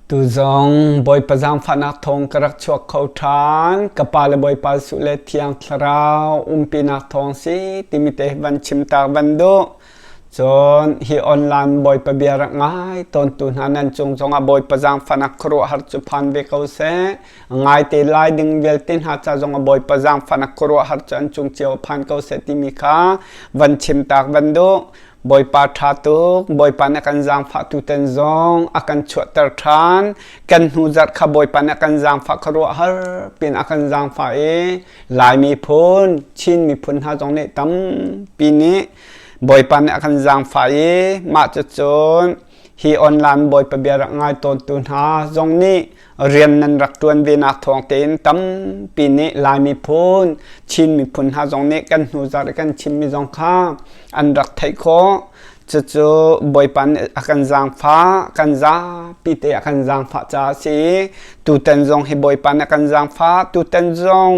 Tuzong Bawipa zaangfahnak thawng ka rak chuak kho ṭhan. Ka pa le Bawipa Jesuh le Thiang Thlarau umpinak thawng si timi te van chim tak van duh. Cun hi online Bawipa bia rak ngai tawntu hna nan cung zongah Bawipa zaangfahnak khuaruahhar cu phan ve ko seh. Ngaite lai ding vialte hna ca zong a Bawipa zaangfahnak khuaruahhar cu an cung cio a phan ko seh timi kha van chim tak van duh Bawipa ṭha tuk Bawipa nih kan zaangfah tu ten zong a kan chuahter ṭhan kan hnu zarh kha Bawipa nih kan zaangfah khuaruahhar pin a kan zaangfah i Lai miphun Chin miphun hna zong nih tampi nih Bawipa nih a kan zaangfah i mah cucun hi online Bawipa bia rak ngai tawn tu hna zong nih rian nan rak ṭuan ve nak thawng tein tampi nih Lai miphun, Chin miphun hna zong nih kan hnu zarh i kan chimmi zong kha an rak theih khawh. Cucu Bawipa nih a kan zaangfah, kan zapi te a kan zaangfah caah a si i tutan zong hi Bawipa nih a kan zaangfah, tutan zong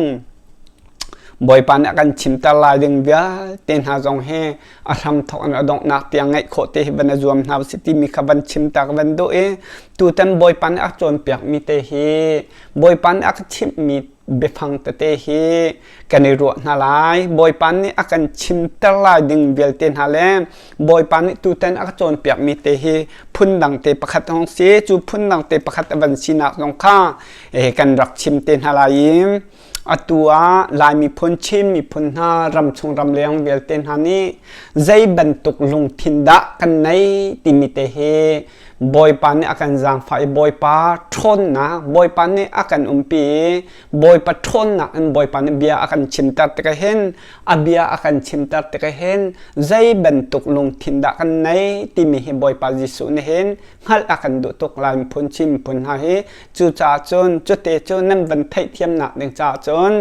Bawipa nih a kan chimter lai ding vialte hna zong hi a hramthok an a donghnak tiang ngeih khawh te hi van a zuam hna usih timi kha van chim tak van duh i tutan bawipa nih a cawnpiak mi te hi bawipa nih a ka chimh mi biafang tete hi kan i ruah hna lai bawipa nih a kan chimter lai ding vialte hna le bawipa nih tutan a ka cawnpiak mi te hi phun dang te pakhat hong si cu phun dang te pakhat a van sinak zong kha kan rak chim te hna lai i Atu ah Lai miphun Chin miphun hna ramchung ramleng vialte hna nih zei bantuk lungthin dah kan nei timi te hi Bawipa nih a kan zaangfah i Bawipa ṭhawnnak Bawipa nih a kan umpi i Bawipa ṭhawnnak in Bawipa nih bia a kan chimter tikah hin a bia a kan chimter tikah hin zei bantuk lungthin dah kan nei timi hi Bawipa Jesuh nih hin hngalh a kan duh tuk lai miphun Chin miphun hna hi cucaah cun cute cu nan van theih thiamnak ding caah cun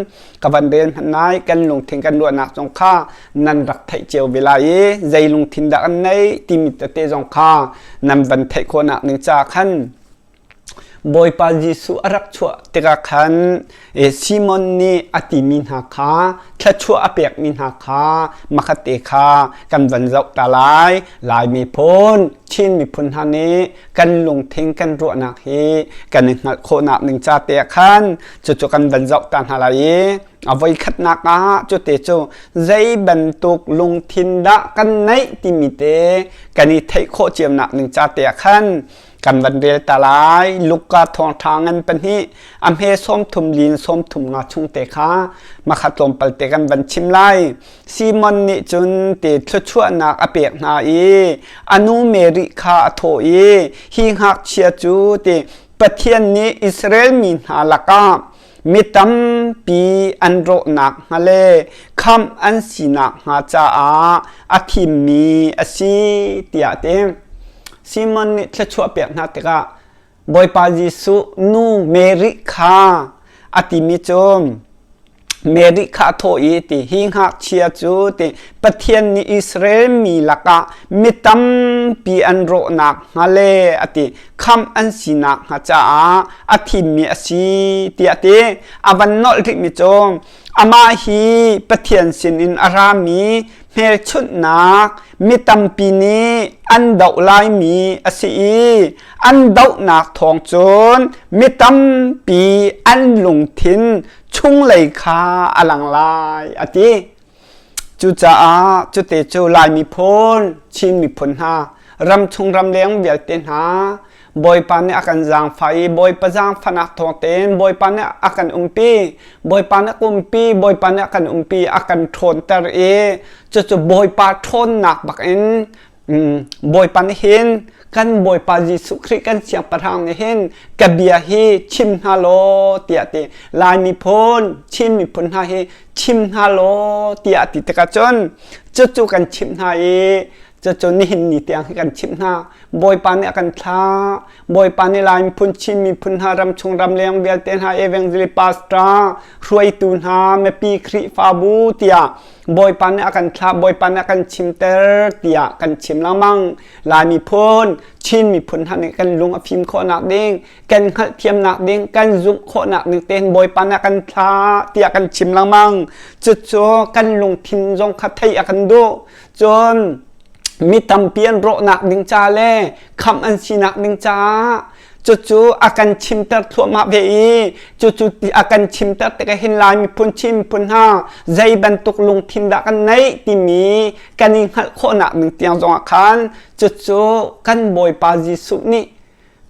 ka van rel nai kan lungthin kan ruahnak zong kha nan rak theih cio ve lai i zei lungthin dah an nei timi tete zong kha nan van theih khawnak ning caah khan Bawipa Jesuh a rak chuah tikah khan Simon nih a timi hna kha thluachuah a pekmi hna kha makhatte kha kan van zoh ta lai Lai miphun Chin miphun hna nih kan lungthin kan ruahnak hi kan i hngalh khawhnak ning ca te khan cucu kan van zoh ta hna lai i a voi khatnak ah cu te cu zei bantuk lungthin dah kan neih timi te kan i theih khawh ciamnak ning ca te khan kan van rel ta lai luka thawngtha ngan pahnih a hme sawmthum lin sawmthum nga chung te kha makhat tlawmpal te kan van chim lai simon nih cun te thluachuahnak a pek hna i anu mary kha a thaw i hi ngakchia cu te pathian nih israel mi hna lakah Mi tampi an rawhnak hnga le khamh an sinak hnga caah a thimmi a si tiah a ti. Simon nih thluachuah pek hna tikah Bawipa Jesuh nu Mary kha a timi cu Mary kha a thawh i ti hi ngakchia cu ti Pathian nih Israel mi lakah mi tampi an rawhnak hnga le a ti khamh an sinak hnga caah a thimmi a si tiah ti a van nolh rihmi cu amah hi Pathian sinin a rami hmelchunhnak mi tampi nih an doh laimi a si i an dohnak thawng cun mi tampi an lungthin chunglei kha a lang lai a ti Cucaah cute cu Laimi phun Chin miphun hna ram chung ram leng vialte hna Bawipa nih a kan zaangfah i Bawipa zaangfahnak thawng tein Bawipa nih a kan umpi Bawipa nih a umpi Bawipa nih a kan umpi a kan ṭhawnter i cucu Bawipa ṭhawnnak bak in Bawipa nih hin kan Bawipa Jesuh Khrih kan siangpahrang nih hin ka bia hi chim hna law tiah ti Lai miphun Chin miphun hna hi chim hna law tiah a ti tikah cun cucu kan chimh hna i cucu nihin ni tiang hi kan chimh hna Bawipa nih a kan thlah Bawipa nih Lai miphun Chin miphun hna ramchung ramleng vialte hna evangelist pastor hruaitu hna mipi Khrihfabu tiah Bawipa nih a kan thlah Bawipa nih a kan chimter tiah kan chim lengmang Lai miphun Chin miphun hna nih kan lung a fim khawhnak ding kan hngalhthiamnak ding kan zumh khawhnak ding tein Bawipa nih a kan thlah tiah kan chim lengmang cucu kan lungthin zong kha theih a kan duh cun mi tampi an rawhnak ding ca le khamh an sinak ding caah cucu a kan chimter thluahmah ve i cucu a kan chimter tikah hin lai miphun chin miphun hna zei bantuk lungthin dah kan neih timi kan i hngalh khawhnak ding tiang zongah khan cucu kan bawipa Jesuh nih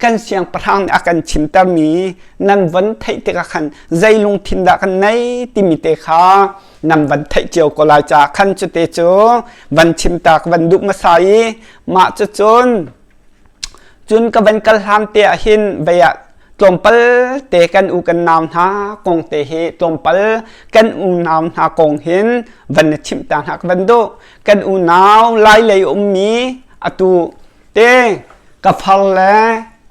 kan siangpahrang nih a kan chimtermi nan van theih tikah khan zei lungthin dah kan nei timi te kha nan van theih cio ko lai caah khan cu te cu van chimtak van duh hmasa i mah cu cun cun ka van kal hlan te ah hin vei ah tlawmpal te kan u kan nau hna kong te hi tlawmpal kan unau hna kong hin van na chimh ta hna ka van duh kan unau lai lei ummi atu te ka far le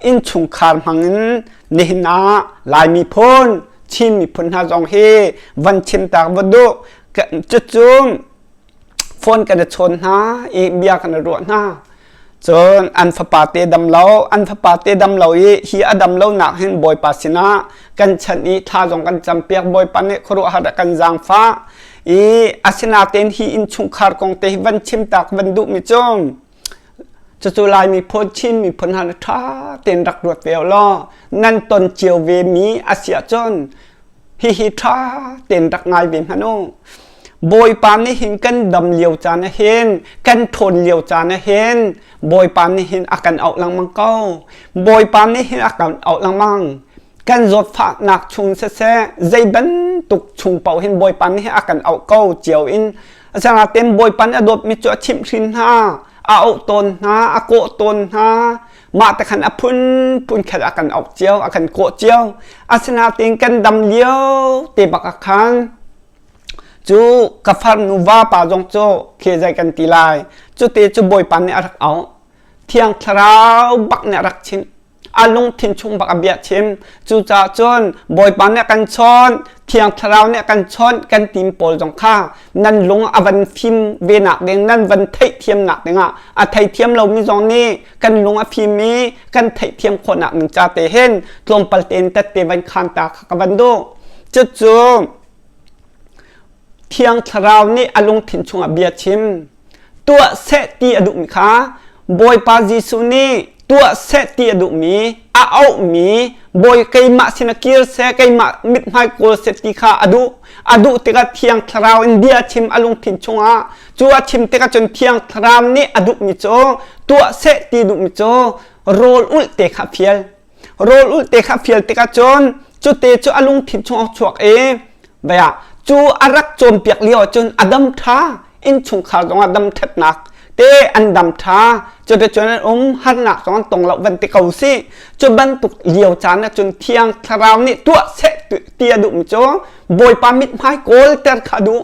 innchungkhar hmangin nihin ah Laimi phun Chin miphun hna zong hi van chimtak va duh cucu phone kan i chawn hna i bia kan i ruah hna cun an fapa te dam lo an fapa te dam lo i hi a dam lo nak hin bawipa sinah kan chan i thla zong kan campiak bawipa nih khuaruahhar kan zaangfa i asinaten hi in chungkhar kong te hi van chimtak van duh mi cung Cucu Lai miphun Chin miphun han ṭha tein rak ruat ve law nan ton cio ve mi a si ahcun hihi ṭha tein rak ngai ve hmanh u. Bawipa nih hin kan dam lio caan ah hin kan ṭhawn lio caan ah hin Bawipa nih hin a kan auh lengmang ko. Bawipa nih hin a kan auh lengmang. kan zawt faknak chung siseh zei bantuk chung paohin bawipa mi hi a kan auh ko cio in asanaten bawipa nih a dawtmi cu a chimhhrin hna a auh tawn hna a kawh tawn hna mah te khan a phunphun khat a kan auh cio a kan kawh cio asinaten kan dam lio te bak a khan cu ka farnu vapa zong cu khe zai kan ti lai cu te cu bawipa nih a rak auh thiang thlarau bak nih a rak chimh a lungthin chung bak a bia chim cucaah cun bawipa nih kan chawn thiang thlarau nih kan chawn kan tim pawl zong kha nan lung a van fim ve nak ding nan van theih thiam nak dingah a thei thiam lomi zong nih kan lung a fim i kan theih thiam khawh nak ning cha te hin tlawmpal tein tat te van khan ta ka van du cucu thiang thlarau nih a lungthin chung a bia chim tuah seh ti a duhmi kha Bawipa Jesuh nih tuah seh ti a duhmi a auhmi bawi keimah sin a kir seh keimah mithmai kawl seh ti kha a duh a duh tikah thiang thlarau in bia chim a lungthin chungah cu a chim tikah cun thiang thlarau nih a duhmi cu tuah seh ti duhmi cu rawl ulh te kha fial rawl ulte kha fial tikah cun cute cu a lungthin chung a chuak i vaya cu a rak cawnpiak lio cun a dam ṭha innchungkhar zong a dam ṭhatnak te an dam ṭha cuticun an um harnak zong an tong lo van ti ko si cu bantuk lio caan ah cun thiang thlarau nih tuah seh ti a duhmi cu bawipa mithmai kawl ter kha duh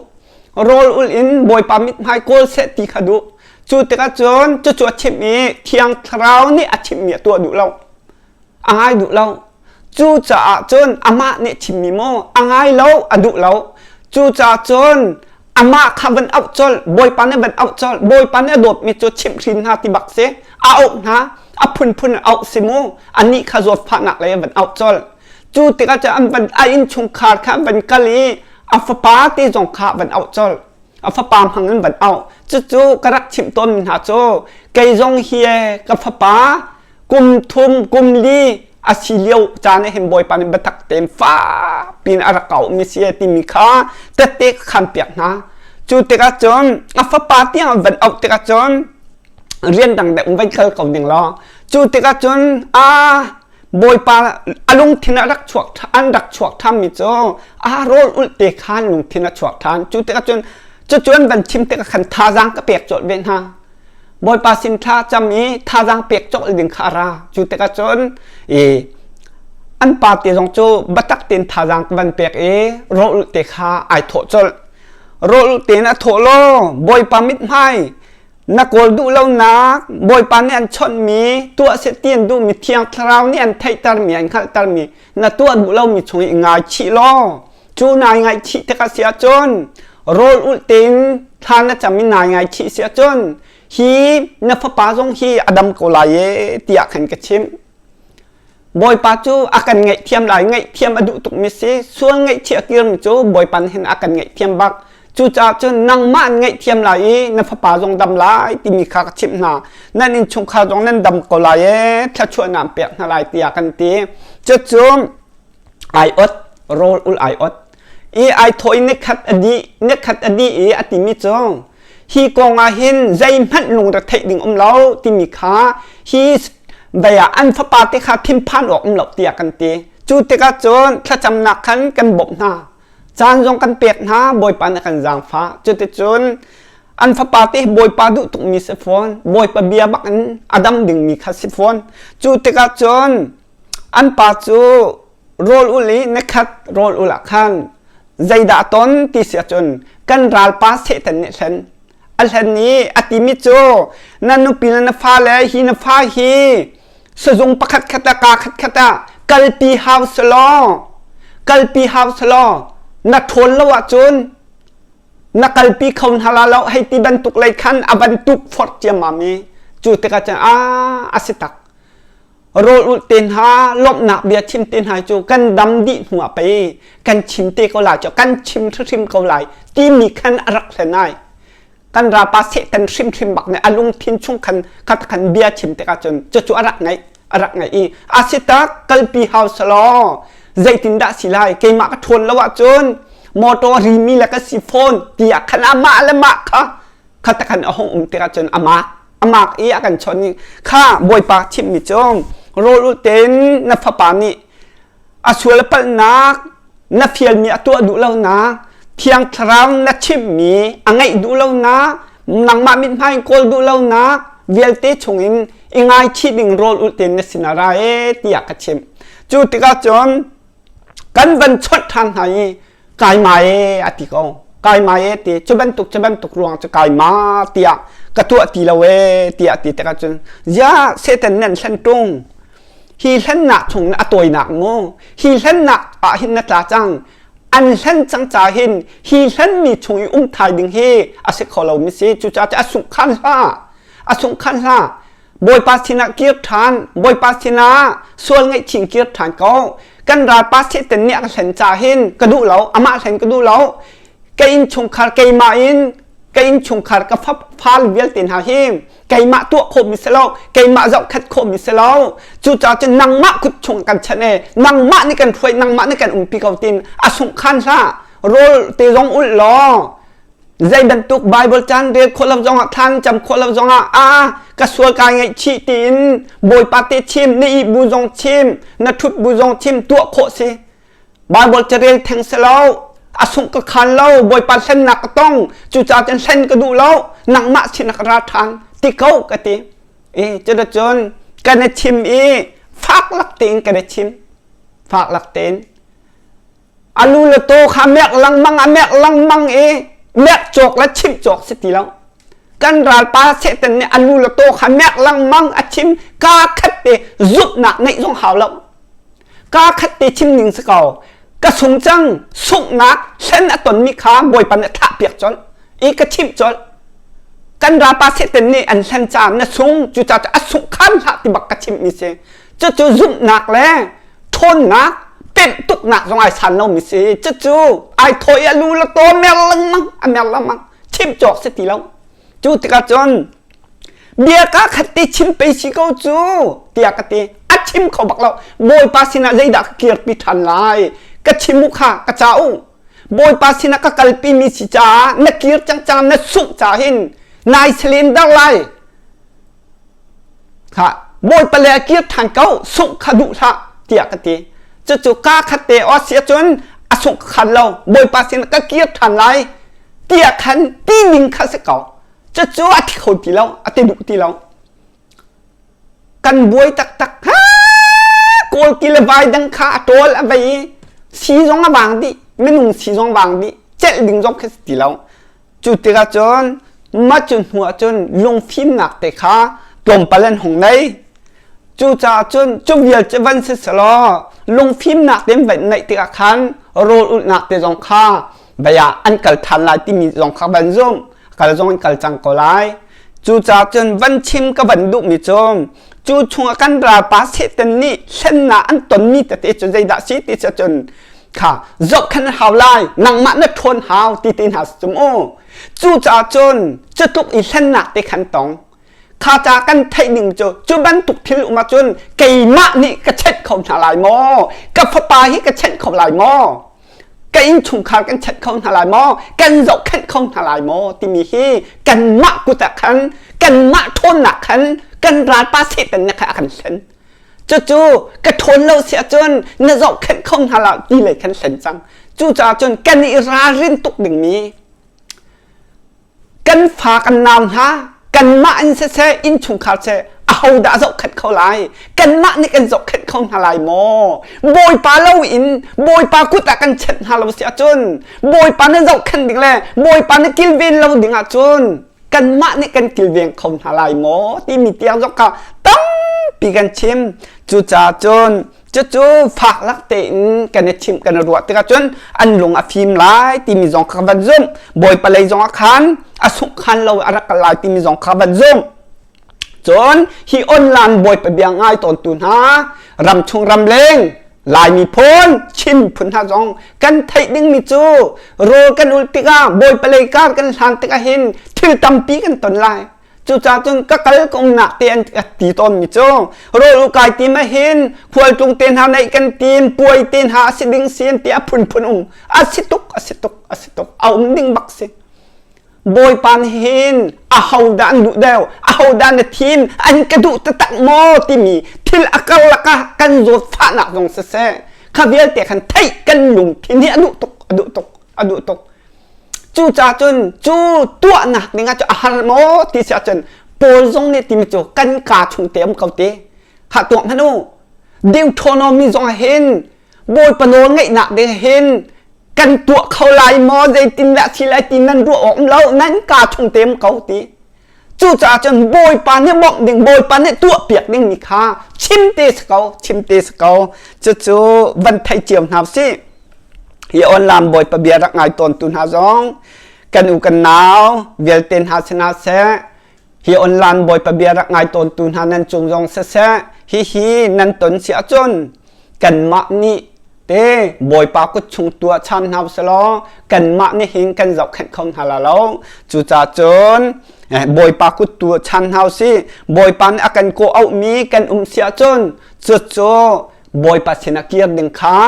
rawl ul in bawipa mithmai kawl seh ti kha duh cu tikah cun cucu a thim i thiang thlarau nih a thimmi a tuah duh lo a ngai duh lo cu caah cun amah nih thimmi maw a ngai lo a duh lo cu caah cun amah kha van auh col bawipa nih van auh col bawipa nih a dawtmi cu chimh hrin hna ti bak si a auh hna a phunphun auh si mu anih kha zawt fahnak lei van auh col cu tikah cun an van a inn chungkhar kha an van kal i a fapa te zong kha van auh col a fapa hmang an van auh cucu ka rak chimh tawnmi hna cu kei zong hi ka fapa kum thum kum li a si lio caan hin bawipa nih biatak tein fa pin a rak kaumi si timi kha tette ka khan piak hna cu tikah cun a fapa tiang van auh tikah cun rian dang le um vai khal ko ding law cu tikah cun a Bawipa a lungthin a rak chuak an rak chuak thanmi cu a rawl ulte khan lungthin a chuak than cu tikah cun cucun van chim tikah khan thazang ka pek cawlh ve hna Bawipa sin thla cam i thazang pek cawlh ding kha ra cu tikah cun i an pa te zong cu batak ten thazang van pek i rawl ulte kha ai thawh cawlh rawl ulte in a thawh law Bawipa mit hmai na kawl duh lonak Bawipa nih an chawnhmi tuah seh ti an duhmi Thiang Thlarau nih an theihtermi an hngalhtermi na tuah duh lomi chung i ngaichih law cu nai ngaihchih tikah si ahcun rawl ulh tein thla na cam i nai ngaichih si ahcun hi na fapa zong hi a dam ko lai e tiah khan ka chimh Bawipa cu a kan ngaihthiam lai ngaihthiam a duh tukmi si sual ngaihchia kirmi cu Bawipa nih hin a kan ngaihthiam bak cucaah cun nangmah an ngaihthiam lai i na fapa zong dam lai timi kha ka chimh hna nan innchungkhar zong nan dam ko lai e thluachuahnak pek hna lai tiah kan ti cucu aiawt rawl ul aiawt ai thaw in nekhat a dih nekhat a dih i a timi cu hi kong ah hin zeihmanh lungret theih ding um lo timi kha hi daya an fapa te kha thinphan awk um lo tiah kan ti cu tikah cun thlacamnak khan kan bawmh hna caan zong kan pek hna bawipa nih kan zaangfa cuticun an fapa te bawipa duh tukmi si fawn bawipa bia bak in a dam dingmi kha si fawn cu tikah cun an pa cu rawl ul i na khat rawl ul ah khan zeidah ton ti si ahcun kan ralpa Satan nih hlen a hlen i a timi cu na nupi le na fale hi na fa hi sizung pakhat khat ah ka khat khat ah kalpi hau selaw kalpi hau selaw na ṭhawl lo ahcun na kalpi kho hna la lo hei ti bantuk lei khan a bantuk forh ciammam i cu tikah cun a a si tak rawl ulh te hna lawmhnak bia thim te hna cu kan dam dih hnu ah pei kan chim te ko lai cu kan chim hrim ko lai timi khan a rak hlen ai kan rapa setan hrimhrim bak nih a lungthin chung khan khat khan bia chim tik ahcun cucu a rak ngaih a rak ngaih i asita kalpi hau salaw zeitin dah si lai keimah ka ṭhawn lo ahcun motor rimi le ka si phone tiah khan amah le mah kha khatakhan a hong um tik ahcun amah amak i a kan chawnh i kha bawipa thimmi cu rawl u tein na fapa nih a sual a palhnak na fialmi a tuah duh lonak thiang thlarau na chimmi a ngaih duh lonak nangmah mithmai in kawl duh lonak vialte chungin i ngaichi ding rawl u tein na sinah ra e tiah ka chim cu tikah cun kan van chawnh ṭhan hna i kai ma e a ti ko kai ma e ti cu bantuk cu bantuk ruang cu kai ma tiah ka tuah ti lo e tiah ti tikah cun ya satan nan hlen tung hi hlennak chung na a tawinak mu hi hlennak ah hin na tla cang an hlen cang ca hin hi hlenmi chung i um thai ding hi a si kho lo mi si cu ca a sungh khan hla a sungh khan hla Bawipa sinah kir ṭhan. Bawipa sinah sual ngaihching kir ṭhan ko. Kan ralpa Satan nih a ka hlen ca hin ka duh lo. Amah hlen ka duh lo. Ka innchungkhar keimah in ka innchungkhar ka fafal vialte hna hi keimah tuah khawhmi si lo, keimah zohkhat khawhmi si lo. Cucaah cun nangmah kut chung kan chanh e, nangmah nih kan hruai, nangmah nih kan umpi ko tin. A sungh khan hlah, rawl te zong ulh law zei bantuk Bible caan rel khawh lo zongah thlan cam khawh lo zongah a ka sual ka ngeih chih tiin Bawipa te chim ni bu zong chim na thut bu zong chim tuah khawh si Bible carel theng se lo a sung ka khan lo Bawipa hlen nak ka tong cu ca ten hlen ka duh lo nangmah sin nak ra than ti ko ka ti e cura cun kan chim i fak lak tein kan chim fak lak tein alu le taw kha mek lengmang a mek lengmang i mek cawk le chim cawk si ti lo kan ralpa satan nih alu le taw kha mek lengmang a chim ka khat te zutnak ngeih zong hau lo ka khat te chim ning si ko ka sung chang sunghnak hlen a ton mi kha bawipa nih thah piak chon i ka chim chon kan rapa seten nih an hlen caan na sung cu ca a sung khan hlah ti bak ka chim mi si cucu zumhnak le ṭhawnnak temtuknak zong ai san lomi si cucu ai thawi a lu le taw mer lengmang a mer lengmang chim cawk si ti lo cu tikah cun bia ka khat ti chim pe si ko cu tiah ka ti a chim kho bak lo bawipa sinah zeidah ka kirpi ṭhan lai ka chim u kha ka ca u bawipa sinah ka kalpi mi si caah na kir cang cang na sungh ca hin nai selen dar lai kha bawipa le a kir ṭhan ko sungh kha duh hlah tiah ka ti cucu ka khat te o si cun a sungh khan lo bawipa sin ka kir ṭhan lai tiah khan ti ning kha si ko cucu a thi kho ti lo a ti duh ti lo kan buai taktak ha kawl ki le vai dang kha a ṭol a vei si zong a vang dih minung si zong vang dih celh ding zong kha si ti lo Cu tikah cun mah cu hnu ah cun lungfimnak te kha tlawmpal an hung ngei. Cucaah cun cu vialte van si selaw lungfimnak te van ngeih tikah khan rawl ulhnak te zong kha vei ah an kal ṭhan lai timi zong kha van zumh. Kal zong in kal cang ko lai. Cucaah cun van chim ka van duhmi cu cu chungah kan ralpa Satan nih hlennak an tonmi tete cu zeidah si ti cu cun kha zohkhan hau lai nangmah na ṭhawn hau ti ti hna cum u cucaah cun cu tluk i hlennak te khan tong kha ca kan theih ning cu cu bantuk thil um ahcun keimah nih ka check kho hna lai maw ka fapa hi ka check kho lai maw ka innchungkhar kan check kho hna lai maw kan zohkhenh kho hna lai maw timi hi kanmah kut ah khan kanmah ṭhawnnak khan kan ralpa setan na kha a kan hlen cucu ka ṭhawn lo si ahcun na zohkhenh kho hna la ti lei khan hlen cang cucaah cun kan i ralrin tuk dingmi kan fa kan nau hna kanmah in siseh innchungkhar seh ahodah zohkhenh kho lai kanmah nih kan zohkhenh kho hna lai maw bawipa lo in bawipa kut ah kan chenh hna lo si ahcun bawipa na zohkhenh ding le bawipa na kilven lo ding ahcun kanmah nih kan kilveng kho hna lai maw timi tiang zong kha tampi kan chim cucaah cun Cucu fak lak tein kan i thim kan i ruah tikah cun an lung a fim lai timi zong kha van zumh. Bawi palei zong ah khan a suk khan lo a rak kal lai timi zong kha van zumh. Cun hi online bawipa bia ngai tawntu hna ram chung ram leng Laimi phun Chin phun hna zong kan theih dingmi cu rawl kan ul tikah bawi palei kar kan hlan tikah hin thil tampi kan ton lai. Cucacun ka kal kung nak te an ka ti tawn mi cu rawl u kai tim a hin khualtlung te hna neih kan tim puai te hna a si ding sin ti a phunphun um a si tuk a si tuk a si tuk a um ding bak si bawipa nih hin a ho dah an duh deu a ho dah na thim an ka duh tatak maw timi thil a kal laka kan zawt fahnak zong si se kha vialte khan theih kan lung thin hi a duh tuk a duh tuk a duh tuk cu ca cun cu tuahnak ding ah cu a har maw ti si ahcun Paul zong nih timi cu kan ka chung te um ko te kha tuak hnan u Deuteronomy zong hin Bawipa nawl ngaihnak ding hin kan tuah kho lai maw zeitin dah si lai ti nan ruah awk um lo nan ka chung te um ko ti Cucaah cun Bawipa nih bawmh ding, Bawipa nih tuahpiak dingmi kha chim te si ko, chim te si ko. Cucu van thei cio hna sih. Hi online Bawipa bia rak ngai tawntu hna zong kan u kan nau vialte hna si hna seh hi online Bawipa bia rak ngai tawntu hna nan cung zong siseh hi hi nan ton si ahcun kanmah nih te bawipa kut chung tuah cham hna usilaw kanmah nih hin kan zohkhenh kho hna la lo cucacun eh, bawipa kut tu chan hna usi bawipa nih a kan kawh auhmi kan um si ahcun cucu bawipa sinah kir ding kha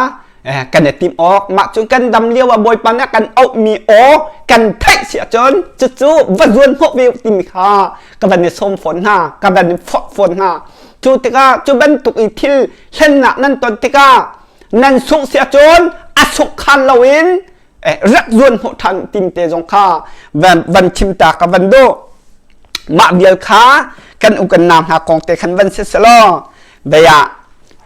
eh, kan i tim awk mah cu kan dam lio ah bawipa nih a kan auhmi aw kan theih si ahcun cucu va zuan hnawh ve timi kha ka van i sawm fawn hna ka van i fak fawn hna cu tikah cu bantuk i thil hlennak nan ton tikah nan sungh si ahcun a suk khan lo in rak zuan hmuh than tim te zong kha van chim ta ka van do mah vial kha kan ukan na hna kong te khan van si selaw baya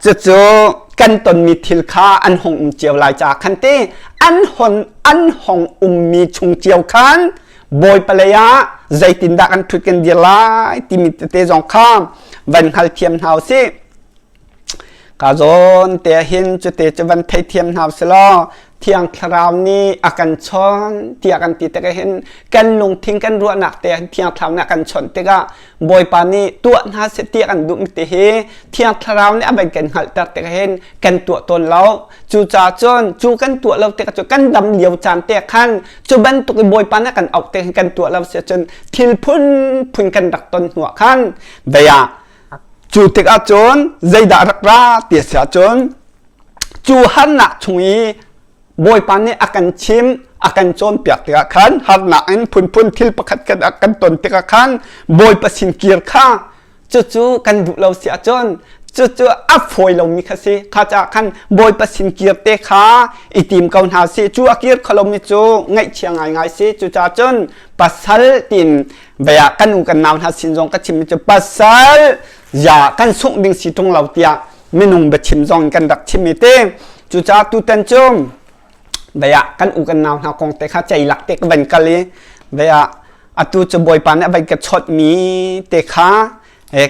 cucu kan tonmi thil kha an hong um cio lai cha khan ti an hon an hong ummi chung cio khan boy paleya zeitin dah kan thut kan dir lai timi te zong kha van hal thiam hna u si ka zawn te hin cu te cu van thei thiam hna selaw thiang thlarau nih a kan chon tiah kan ti tikah hin kan lungthin kan ruahnak te thiang thlarau nih a kan chon tikah bawipa nih tuah hna seh tiah kan duh ti hi thiang thlarau nih a van kan hngalhter tikah hin kan tuah tawn lo cucaah cun cu kan tuah lo tikah cu kan dam lio caan te khan cu bantuk i bawipa nih kan auh tikah kan tuah lo sia cun thil phunphun kan rak ton hnuah khan daya Cu tikah cun zeidah rak ra ti a si ahcun cu harnak chung i Bawipa nih a kan chim a kan cawnpiak tikah khan harnak in phunphun thil pakhat khat a kan ton tikah khan Bawipa sin kir kha cucu kan duh lo si ahcun cucu a fawi lomi kha si kha caah khan Bawipa sin kir te kha i tim ko hna si cu a kir kholomi cu ngaihchia ngaingai si cucaah cun pasal tiin baya kan nu kan nau hna sin zong ka chim cu pasal ya kan sungh ding si tung lo tiah minung biachim zong kan rak chim i te cucaah tutan cu baya kan u kan nau hna kong te kha cei lak te ka van kal i baya atu cu bawipa nih van ka chawt mi te kha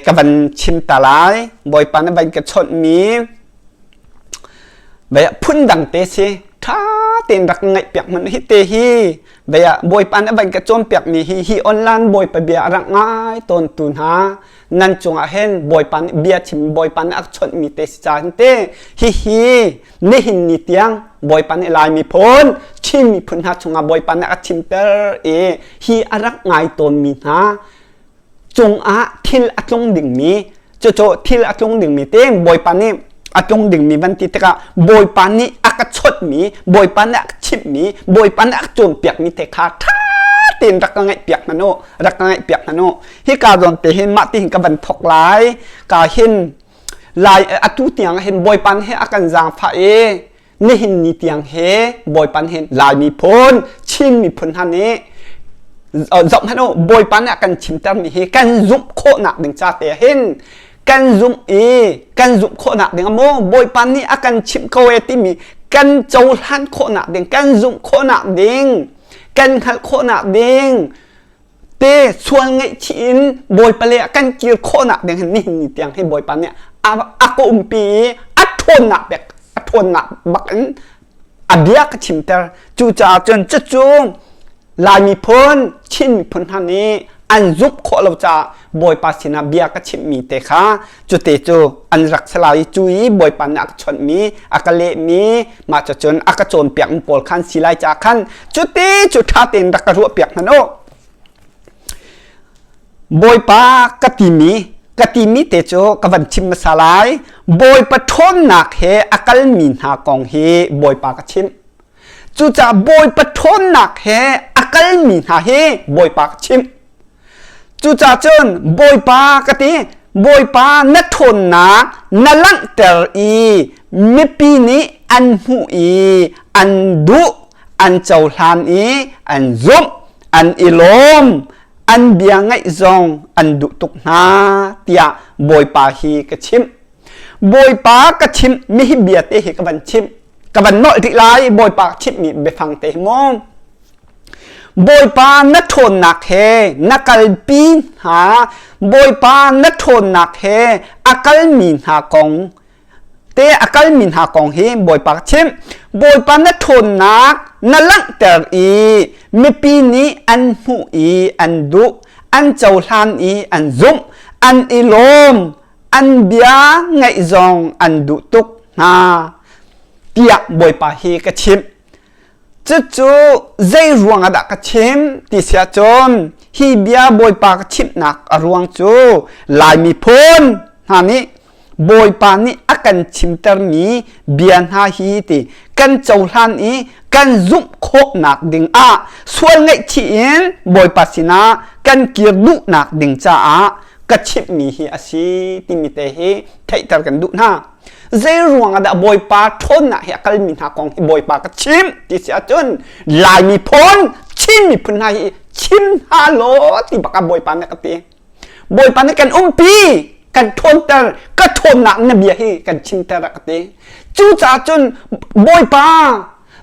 ka van chim ta lai bawipa nih van ka chawt mi baya phun dang te si tha tein rak ngaih piak mun hi te hi Baya bawipa na van ka cawnpiak mi hi hi online bawipa bia a rang ngai ton tu hna nan cungah hen bawipa nih bia chim bawipa nih a chawnh mi te si ca te hi hi nihin ni tiang bawipa nih lai mi phun Chin miphun hna chungah bawipa nih a chim ter i hi a rak ngai ton mi hna cungah thil a tlung dingmi cucu thil a tlung dingmi te bawipa nih a tlung dingmi van ti tikah bawipa nih a ka chawtmi bawipa nih a ka chimhmi bawipa nih a ka cawnpiakmi te kha ṭha tein rak ka ngaih piak hmanh u rak ka ngaih piak hmanh u hi ka zawn te hin mah ti hin ka van thok lai ka hin lai atu tiang hin bawipa he a kan zaangfah i nihin ni tiang he bawipan hin laimi phun chin miphun hna nih zoh hmanh u bawipa nih a kan chimter mi hi kan zumh khawhnak ding ca te hin kan zumh i kan zumh khawhnak ding a maw bawipa nih a kan chimh ko e timi kan cohlan khawhnak ding kan zumh khawhnak ding kan hngalh khawhnak ding te sual ngaihchih in bawipa le a kan kir khawhnak ding hin nihin ni tiang hi bawipa nih a ka umpi i a ṭhawnnak bek a ṭhawnnak bak in a bia ka chimter cucaah cun cucu lai miphun chin miphun hna nih an zumh khawh lo caah bawipa sinah bia ka chimhmi te kha Cute cu an rak se lau i cu i Bawipa nih a ka chawnhmi a ka lehmi mah cu cun a ka cawnpiak mi pawl khan si lai caah khan cuti cu ṭha tein rak ka ruahpiak hmanh u. Bawipa ka timi ka timi te cu ka van chim hmasa lai Bawipa ṭhawnnak he a kalmi hna kong hi Bawipa ka chimh Cucaah Bawipa ṭhawnnak he a kalmi hna hi Bawipa ka chimh. Cucaah cun Bawipa ka ti, Bawipa na ṭhawnnak na langhter i mipi nih an hmuh i an duh, an cohlan i an zumh, an i lawm, an bia ngaih zong an duh tuk hna tiah Bawipa hi ka chimh. Bawipa ka chimh mi hi bia te hi ka van chimh ka van nolh rih lai Bawipa chimh mi biafang te hi maw Bawipa na ṭhawnnak he na kalpi hna Bawipa na ṭhawnnak he a kal mi hna kong te a kal mi hna kong hi Bawipa ka chimh Bawipa na ṭhawnnak na langhter i mipi nih an hmuh i an duh an cohlan i an zumh an i lawm an bia ngaih zong an duh tuk hna tiah Bawipa hi ka chimh cucu zei ruang ah dah ka chim ti sia cun hi bia Bawipa ka chimhnak a ruang cu Laimi phun hna nih Bawipa nih a kan chimtermi bia hna hi ti kan cohlan i kan zumh khawhnak ding ah sual ngaihchih in Bawipa sinah kan kir duhnak ding caah ka chimhmi hi a si timi te hi theihter kan duh hna zei ruang ah dah bawipa ṭhawnnak hi a kalmi hna kong hi bawipa ka chim ti si ahcun laimi phun chin miphun hna hi chim hna law ti bak ah bawipa nih ka ti bawipa nih kan umpi kan ṭhawnter ka ṭhawnnak na bia hi kan chimter a ka ti cucaah cun bawipa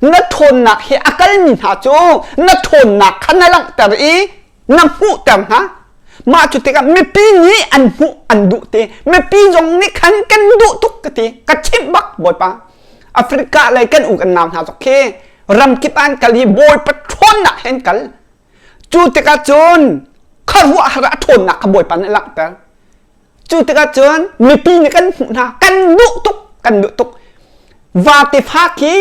na ṭhawnnak hi a kalmi hna cu na ṭhawnnak kha na langhter i na hmuhter hna mah cu tikah mipi nih an hmuh an duh te mipi zong nih khan kan duh tuk ka ti ka chimh bak bawipa africa lei kan u kan nau hna zok khi ramkip an kal hi bawi patron nak hen kal cu tikah cun kharuah har a thawnnak kha bawipa nih a langhter cu tikah cun mipi nih kan hmuh hna kan duh tuk kan duh tuk vate fa khi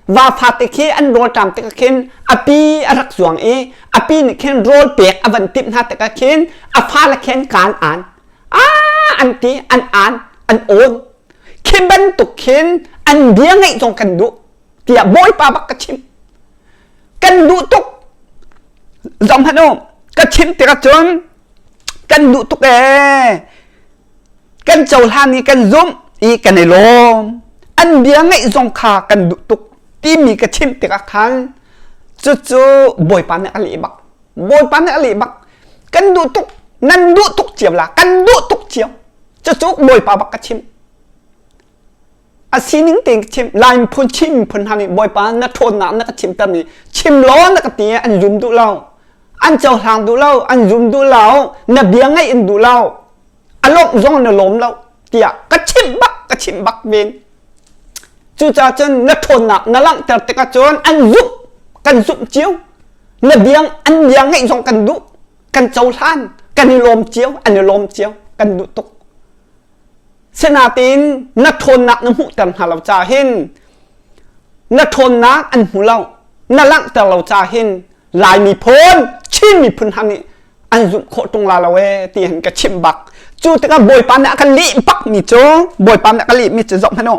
va fate khi an rawlṭam tikah khin api a rak zuang i api nih khin rawl pek a van timh hna tikah khin a fale khin kaan an a an ti an an an awn khi bantuk khin an bia ngeih zong kan duh tiah bawipa bak ka chim kan duh tuk zong hmanh u ka chim tikah cun kan duh tuk ee kan cohlan i kan zumh i kan i lawm an bia ngaih zong kha kan duh tuk timi ka chim tikah khan cucu bawipa nih a leh bak bawipa nih a leh bak kan duh tuk nan duh tuk cio la kan duh tuk cio cucu bawipa bak ka chim a sining te chim lai phun chim phun hang bawipa na ṭhawnnak na ka chim tam i chim law na ka ti an zum duh lo an cohlang duh lo an zum duh lo na bia ngaih in duh lo a lawmh zong na lawm lo tiah ka chim bak ka chim bak men cucaah cun na ṭhawnnak na langhter tikah cun an zumh kan zumh cio na bia an bia ngaih zong kan duh kan cohlan kan i lawm cio an i lawm cio kan duh tuk Sinain na ṭhawnnak na hmuhter hna lo ca hin na ṭhawnnak an hmu lo na langhter lo ca hin Lai miphun Chin miphun hna nih an zumh khawh ṭung la lo e ti hin ka chimh bak cu tikah Bawipa nih a ka lih bak mi cu Bawipa nih a ka lih mi cu zoh hmanh u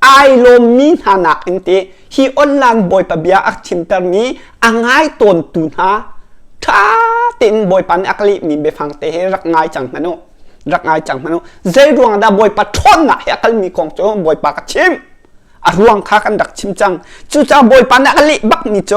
ai lawmmi hna nakin te hi online bawipa bia a chimtermi a ngai tawntu hna ṭha tein bawipa nih a ka lehmi biafang te he rak ngai cang hmanu rak ngai cang hmanu zei ruang dah bawipa ṭhawnnak he a kalmi kong cu bawipa ka chim a ruang kha kan rak chim cang cucaah bawipa nih a ka leh bakmi cu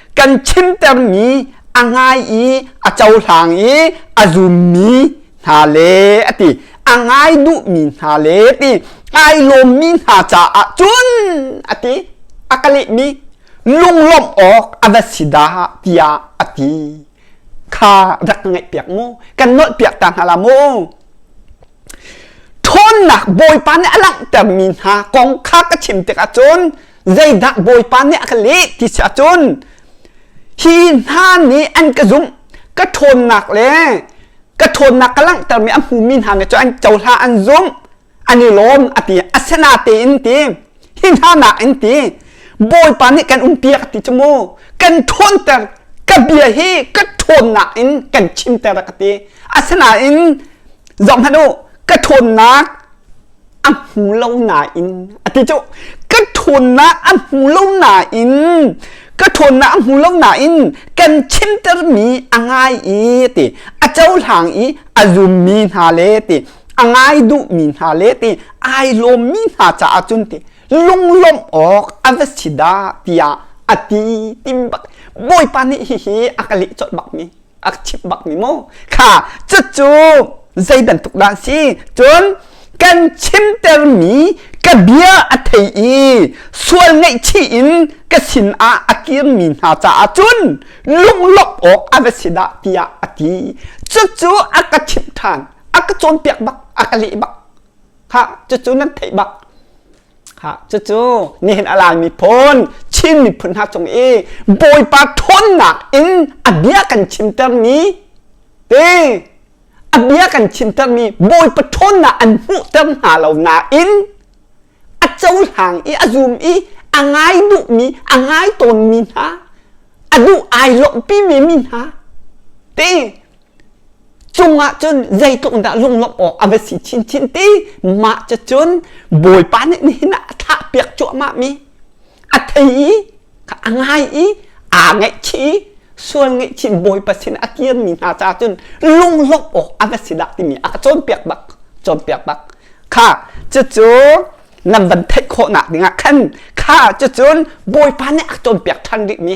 kan chimtermi a ngai i a cohlang i a zummi hna le a ti a ngai duhmi hna le ti ai lawmmi hna caah cun a ti a ka lehmi lunglawmh awk a va si da tiah a ti kha rak ka ngaih piak mu kan nolh piak ta hna la mu ṭhawnnak bawipa nih a langhtermi hna kong kha ka chim tikah cun Zeidah Bawipa nih a ka leh ti si ahcun hi hna nih an ka zumh ka ṭhawnnak le ka ṭhawnnak ka langhtermi a hmumi hna nih cu an cohla an zumh an i lawm a ti asena tein ti hi hna nak in ti Bawipa nih kan umpiak ti cu mu kan ṭhawnter ka bia hi ka ṭhawnnak in kan chimter ka ti asinain zohhmanh u ka ṭhawnnak a hmu lo nain a ti cu ka ṭhawnnak a hmu lo nain ka ṭhawnnak a hmu lo nain kan chimtermi a ngai i ti a cohlang i a zummi hna le ti a ngai duhmi hna le ti ai lawmmi hna caah cun ti lunglawmh awk a va si dah tiah a ti ti bak bawipa nih hihi a ka leh colh bak mi a chip bak mi mu kha cucu zei bantuk dah si cun kan chimter mi ka bia a thei i sual ngaihchih in ka sin ah a kir mi hna caah cun lunglawmh awk a va si dah tiah a ti cucu a ka chimh than a ka cawnpiak bak a ka leh bak kha cucu nan theih bak cucu nihin a lang miphun Chin miphun hna cung i Bawipa ṭhawnnak in a bia kan chimtermi te a bia kan chimtermi Bawipa ṭhawnnak an hmuhter hna lo nain a cohlang i a zum i a ngai duhmi a ngai tawnmi hna a duh ai lawhpimi mi hna te cungah cun zeitluk in dah lunglawmh awk a va si chinchin ti mah cu cun bawipa nih nihin ah a thlah piak cuahmah mi a thei i a ngai i aa ngaihchih i sual ngaihchin bawipa sin a kian mi hna caah cun lunglawmh awk a va si dah timi a ka cawnpiak bak cawnpiak bak kha cucu nan van theih khawhnak dingah khan kha cucun bawipa nih a cawnpiak ṭhan rih mi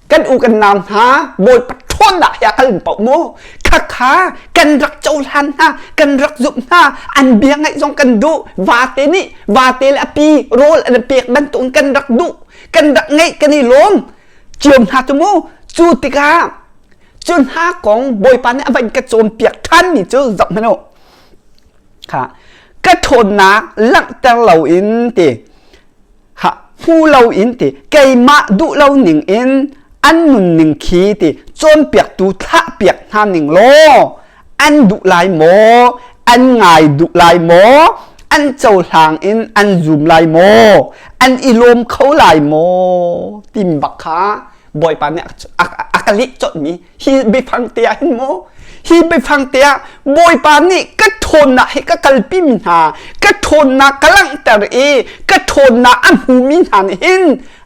kan u kan nam hna bawipa ṭhawnnak hi a kal paoh mu khakha kan rak cohlan hna kan rak zumh hna an bia ngaih zong kan duh vate nih vate le api rawl an pek bantukin kan rak duh kan rak ngaih kan i lawm ciom hna tu mu cu tikah cu hna kong bawipa nih a vain ka cawm piak ṭhanmi cu zoh hmano kha ka ṭhawnnak langhter loin ti ha hmu lo in ti keimah duh lo ning in an nunning khi ti cawnpiaktu thlahpiak hna ning law an duh lai maw an ngai duh lai maw an cohlang in an zum lai maw an i lawm kho lai maw tim bak kha bawipa nih a ka lih cawtmi hi biafang te ah hin maw hi biafang te ah bawipa nih ka ṭhawnnak hi ka kalpimi hna ka ṭhawnnak ka langhter i ka ṭhawnnak a hmumi hna nih hin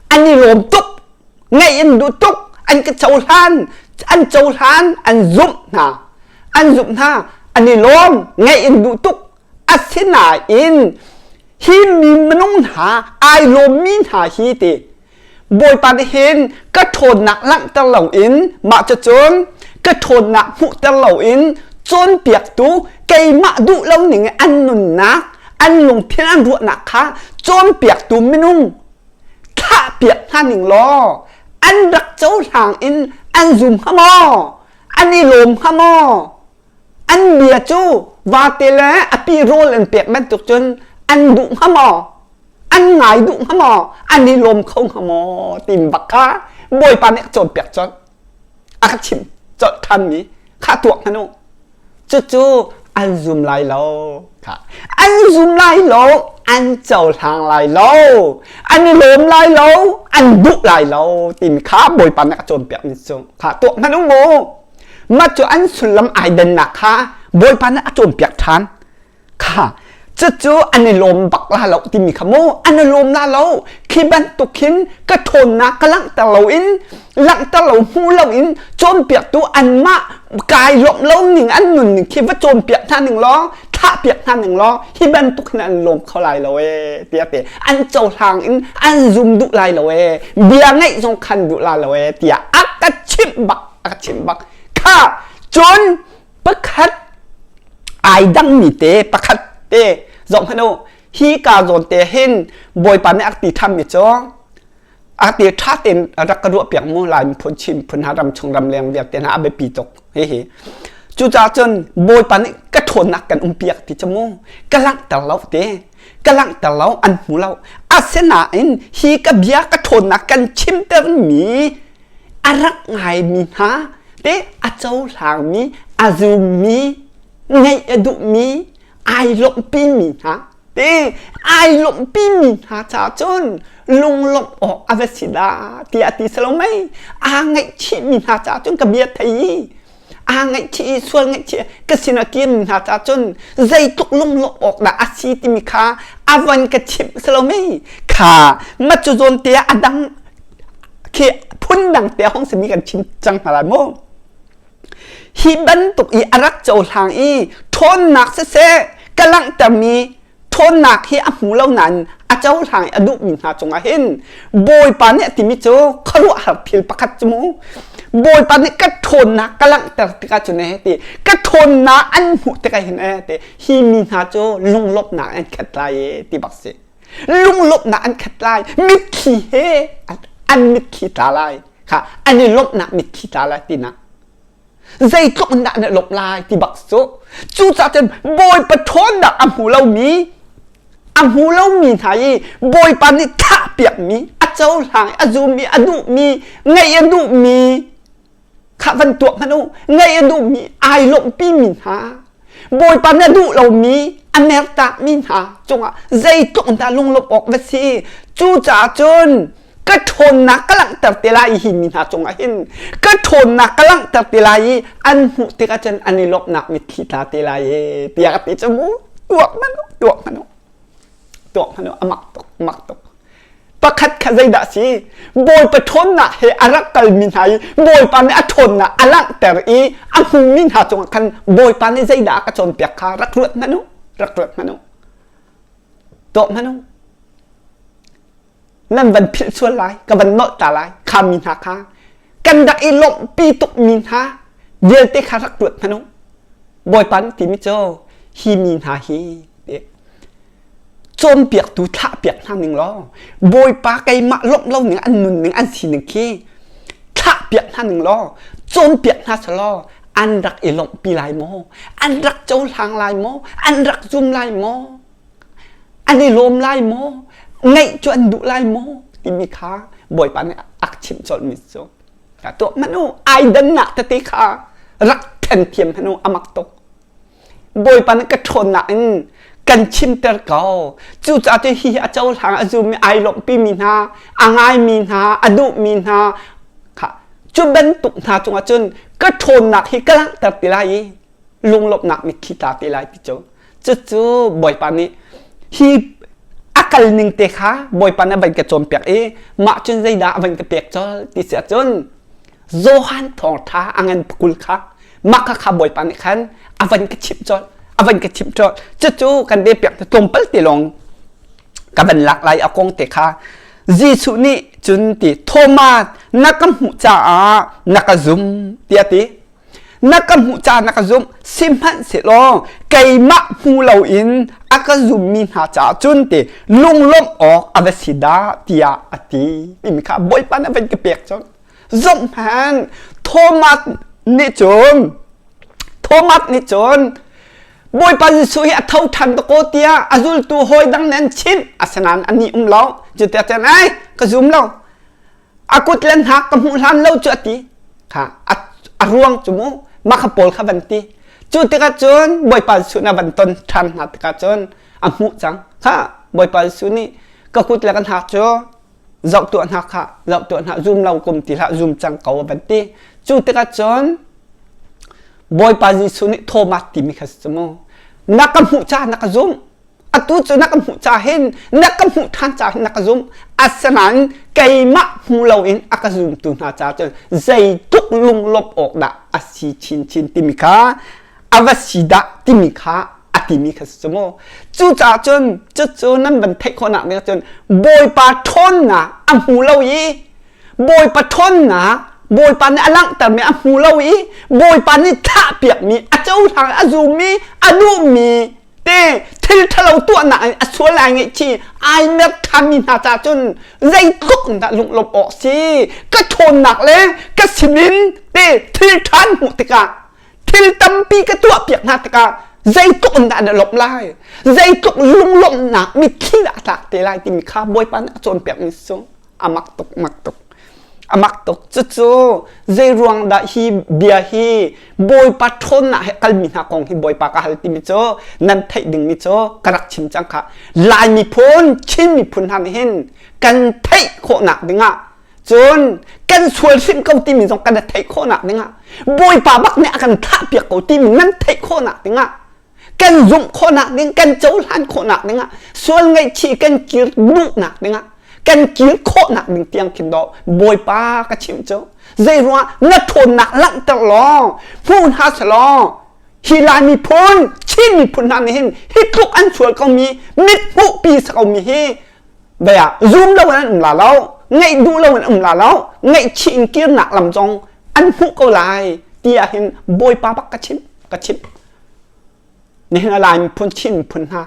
an i lawm tuk ngaih in duh tuk an ka cohlan an cohlan an zumh hna an zumh hna an i lawm ngaih in duh tuk asinain hi mi minung hna ai lawmmi hna hi ti Bawipa nih hin ka ṭhawnnak langhter loin mah cun ka ṭhawnnak hmuhter loin cawnpiaktu keimah duh lo ning i an nunnak an lungthin an ruahnak kha cawnpiaktu minung thahpiak hna ning law an rak cohlang in an zum hnga maw an i lawm hnga maw an bia cu vate le api rawl an pek bantuk cun an duh hnga maw an ngai duh hnga maw an i lawm kho hnga maw tin bak kha bawipa nih a cawnpiak cawlh a ka chim cawlh thanmi kha tuak hmanu cucu an zum lai lo kha an zum lai lo an cohlang lai lo an i lawm lai lo an duh lai lo tin kha bawipa nih a cawnpiak ni cu kha tuak hmanu mu mah cu an sullam ai dannak kha bawipa nih a cawnpiak ṭhan kha cucu an i lawm bak la lo timi kha mu an i lawm la lo khi bantuk hin ka ṭhawnnak ka langhter lo in langhter lo hmu lo in cawnpiaktu anmah kai lawmh lo ning an nun ning khi va cawnpiak hna ning lawng thahpiak hna ning lawng hi bantuk hin an lawm kho lai lo e tiah te an cohlang in an zum duh lai lo e bia ngeih zong khan duh la lo e tiah a ka chimh bak a ka chim bak kha cun pakhat ai dangmi te pakhat te zong hano hi ka zawn te hin bawipa nih ak ti tham mi cho a te tha ten rak ka ruah piang mu lai mi phun chin phun ha ram chung ram leng vial te na abe pi tok he he cu cha chun bawipa nih ka thon nak kan um piak ti chamu ka lang tar lo te ka lang tar lo an mu lo asena in hi ka bia ka thon nak kan chim ter mi a rak ngaimi hna le a cohlangmi a zummi ngeih a duhmi ai lawmhpimi hna te ai lawmhpimi hna caah cun lunglawmh awk a va si la tiah a ti salomei aa ngaihchihmi hna caah cun ka bia thei aa ngaihchih i sual ngaihchih ka sinah tiammi hna ca cun zeitluk lunglawmh awk dah a si timi kha avan ka chimh salome kha matcu zawn te a dang khi phundang te hong simi kan chim cang hna lai mu hi bantuk i a rak cohlang i ṭhawnnak siseh ka langhtermi ṭhawnnak hi a hmu lo nain a cohlang i a duhmi hna cungah hin Bawipa nih a timi cu khuaruahhar thil pakhat cu mu Bawipa nih ka ṭhawnnak ka langhter tikah cun eh ti ka ṭhawnnak an hmuh tikah hin eh ti hi mi hna cu lunglawmhnak an khat lai eh ti bak si lunglawmhnak an khat lai mitthli he an mitthli tla lai kha an i lawmhnak mitthli tla lai tinak zeitluk in dah na lawmh lai ti bak cu cucaah cun bawipa ṭhawnnak a hmu lomi a hmu lomi hna i bawipa nih thahpiakmi a cohlang a zummi a duhmi ngaih a duhmi kha van tuah hmanh u ngaih a duhmi ai lawmhpimi hna Bawipa nih a duh lomi a mertakmi hna cungah zeitluk dah lunglawmh awk va si. Cucaah cun ka ṭhawnnak ka langhter te lai i hi mi hna cungah hin ka ṭhawnnak ka langhter te lai i an hmuh tikah cun an i lawmhnak mitthli tla te lai e tiah ka ti cu mu tuak hmanh tuak hmanh tuak hmanh amah tuk amah tuk pakhat kha zeidah a si bawipa ṭhawnnak he a rak kalmi hna i bawipa nih a ṭhawnnak a langhter i a hmumi hna cungah khan bawipa nih zeidah a ka cawnpiak kha rak ruat hmanh u rak ruat hmanh u tuah hmanh u nan van philh sual lai ka van nolh ta lai khammi hna kha kan rak i lawmhpi tukmi hna vialte kha rak ruat hmanh u bawipa nih timi cu hi mi hna hi cawnpiaktu thlahpiak hna ning law bawipa keimah lawmh lo ning an nun ning an sining khi thlahpiak hna ning law cawnpiak hna selaw an rak i lawmh pi lai maw an rak cohlang lai maw an rak zum lai maw an i lawm lai maw ngaih cu an duh lai maw timi kha bawipa nih ak chimh colhmi cu ka tuah manu ai dannak tete kha rak then thiam hnu amak tuk Bawipa nih ka ṭhawnnak in kan chimter ko. Cucaah cu hi a cohlang a zum i ai lawmhpimi hna, a ngaimi hna, a duhmi hna, cu bantuk hna cungah cun ka ṭhawnnak hi ka langhter ti lai i lunglawmhnak mitthli ta te lai ti cu. Cucu Bawipa nih hi a kal ning te kha Bawipa nih a van ka cawnpiak i mah cun zeidah a van ka pek col ti si ahcun Johan thawngtha angan kul kha maka kha bawipa nih khan avan ka chimh cawlh avan ka chimh cawlh cucu kan de pek te tlawmpal te lawng ka van lak lai akong te kha Jesuh nih cun ti Thomas na ka hmuh caah na ka zum tiah ti na ka hmuh ca na ka zumh sihmanhsehlaw keimah hmu loin a ka zummi hna caah cun ti lunglawmh awk a va si dah tiah a ti timi kha bawipa na van ka pek cun zomh hman thomas nih cun thomas nih cun bawipa jesuh hi a tho than ta ko tiah a zultu hawi dang nen chinh asinain ani um lo cuti cun ai ka zum lo a kut le hnak ka hmuh hlan lo cu a ti kha a, a ruang cu mu ma kha pawl kha van ti cu tikah cun bawipa Jesuh na van ton ṭhan hna tikah cun a hmuh cang kha bawipa Jesuh nih ka kut le ka hnak cu zoh tuah hna kha zoh tuah hna zum lo kum ti hlah zum cang ko a van ti cu tikah cun bawipa Jesuh nih Thomas timi kha si mu na ka hmuh ca na ka zumh atu cu na ka hmuh ca hin na ka hmuh than ca hin na ka zum asinain keimah hmu loin a ka zumtu hna ca cun zeitluk lunglawmh awk dah a si chinchin timi kha a va si dah timi kha a timi kha si maw cucaah cun cucu nan van theih khawhnak ding cun bawipa ṭhawnnak a hmu lo i bawipa ṭhawnnak bawipa nih a langhtermi a hmu lo i bawipa nih thahpiakmi a cohlang a zummi a duhmi te thil thalo tuahnak a sual ai ngeih chi ai mer than mi hna ca cun zei tluk in dah lunglawmh awk si ka ṭhawnnak le ka sim in te thil ṭhan hmuh tikah thil tampi ka tuah piak hna tikah zeitluk in dah na lawmh lai zeitluk lunglawmhnak mitthli dah a tlak te lai timi kha bawipa nih a cawnpiak mi sung a mak tuk mak tuk a mak tuk cucu zeiruang dah hi bia hi bawipa ṭhawn ah kalmi hna kong hi bawipa ka hal timi cu nan theih dingmi cu ka rak chim cang kha lai miphun chin miphun hna nih hin kan theih khawhnak dingah cun kan sual hrim ko timi zong kan theih khawhnak dingah bawipa bak nih a kan thlah piak ko timi nan theih khawhnak dingah kan zumh khawhnak ding kan cohlan khawhnak dingah sual ngaihchih kan kir duhnak dingah kan kir khawhnak ding tiang khin do bawipa ka chim cu zei ruang na ṭhawnnak langhter law hmu hna selaw hi lai miphun chin miphun hna nih hin hi tluk an sual komi mit hmuhpi sa komi hi vaya zum lo an um la lo ngaih duh lo an um la lo ngaihchih in kirnak lam zong an hmuh ko lai tiah hin bawipa bak ka chim ka chim Nihin a lai miphun Chin miphun hna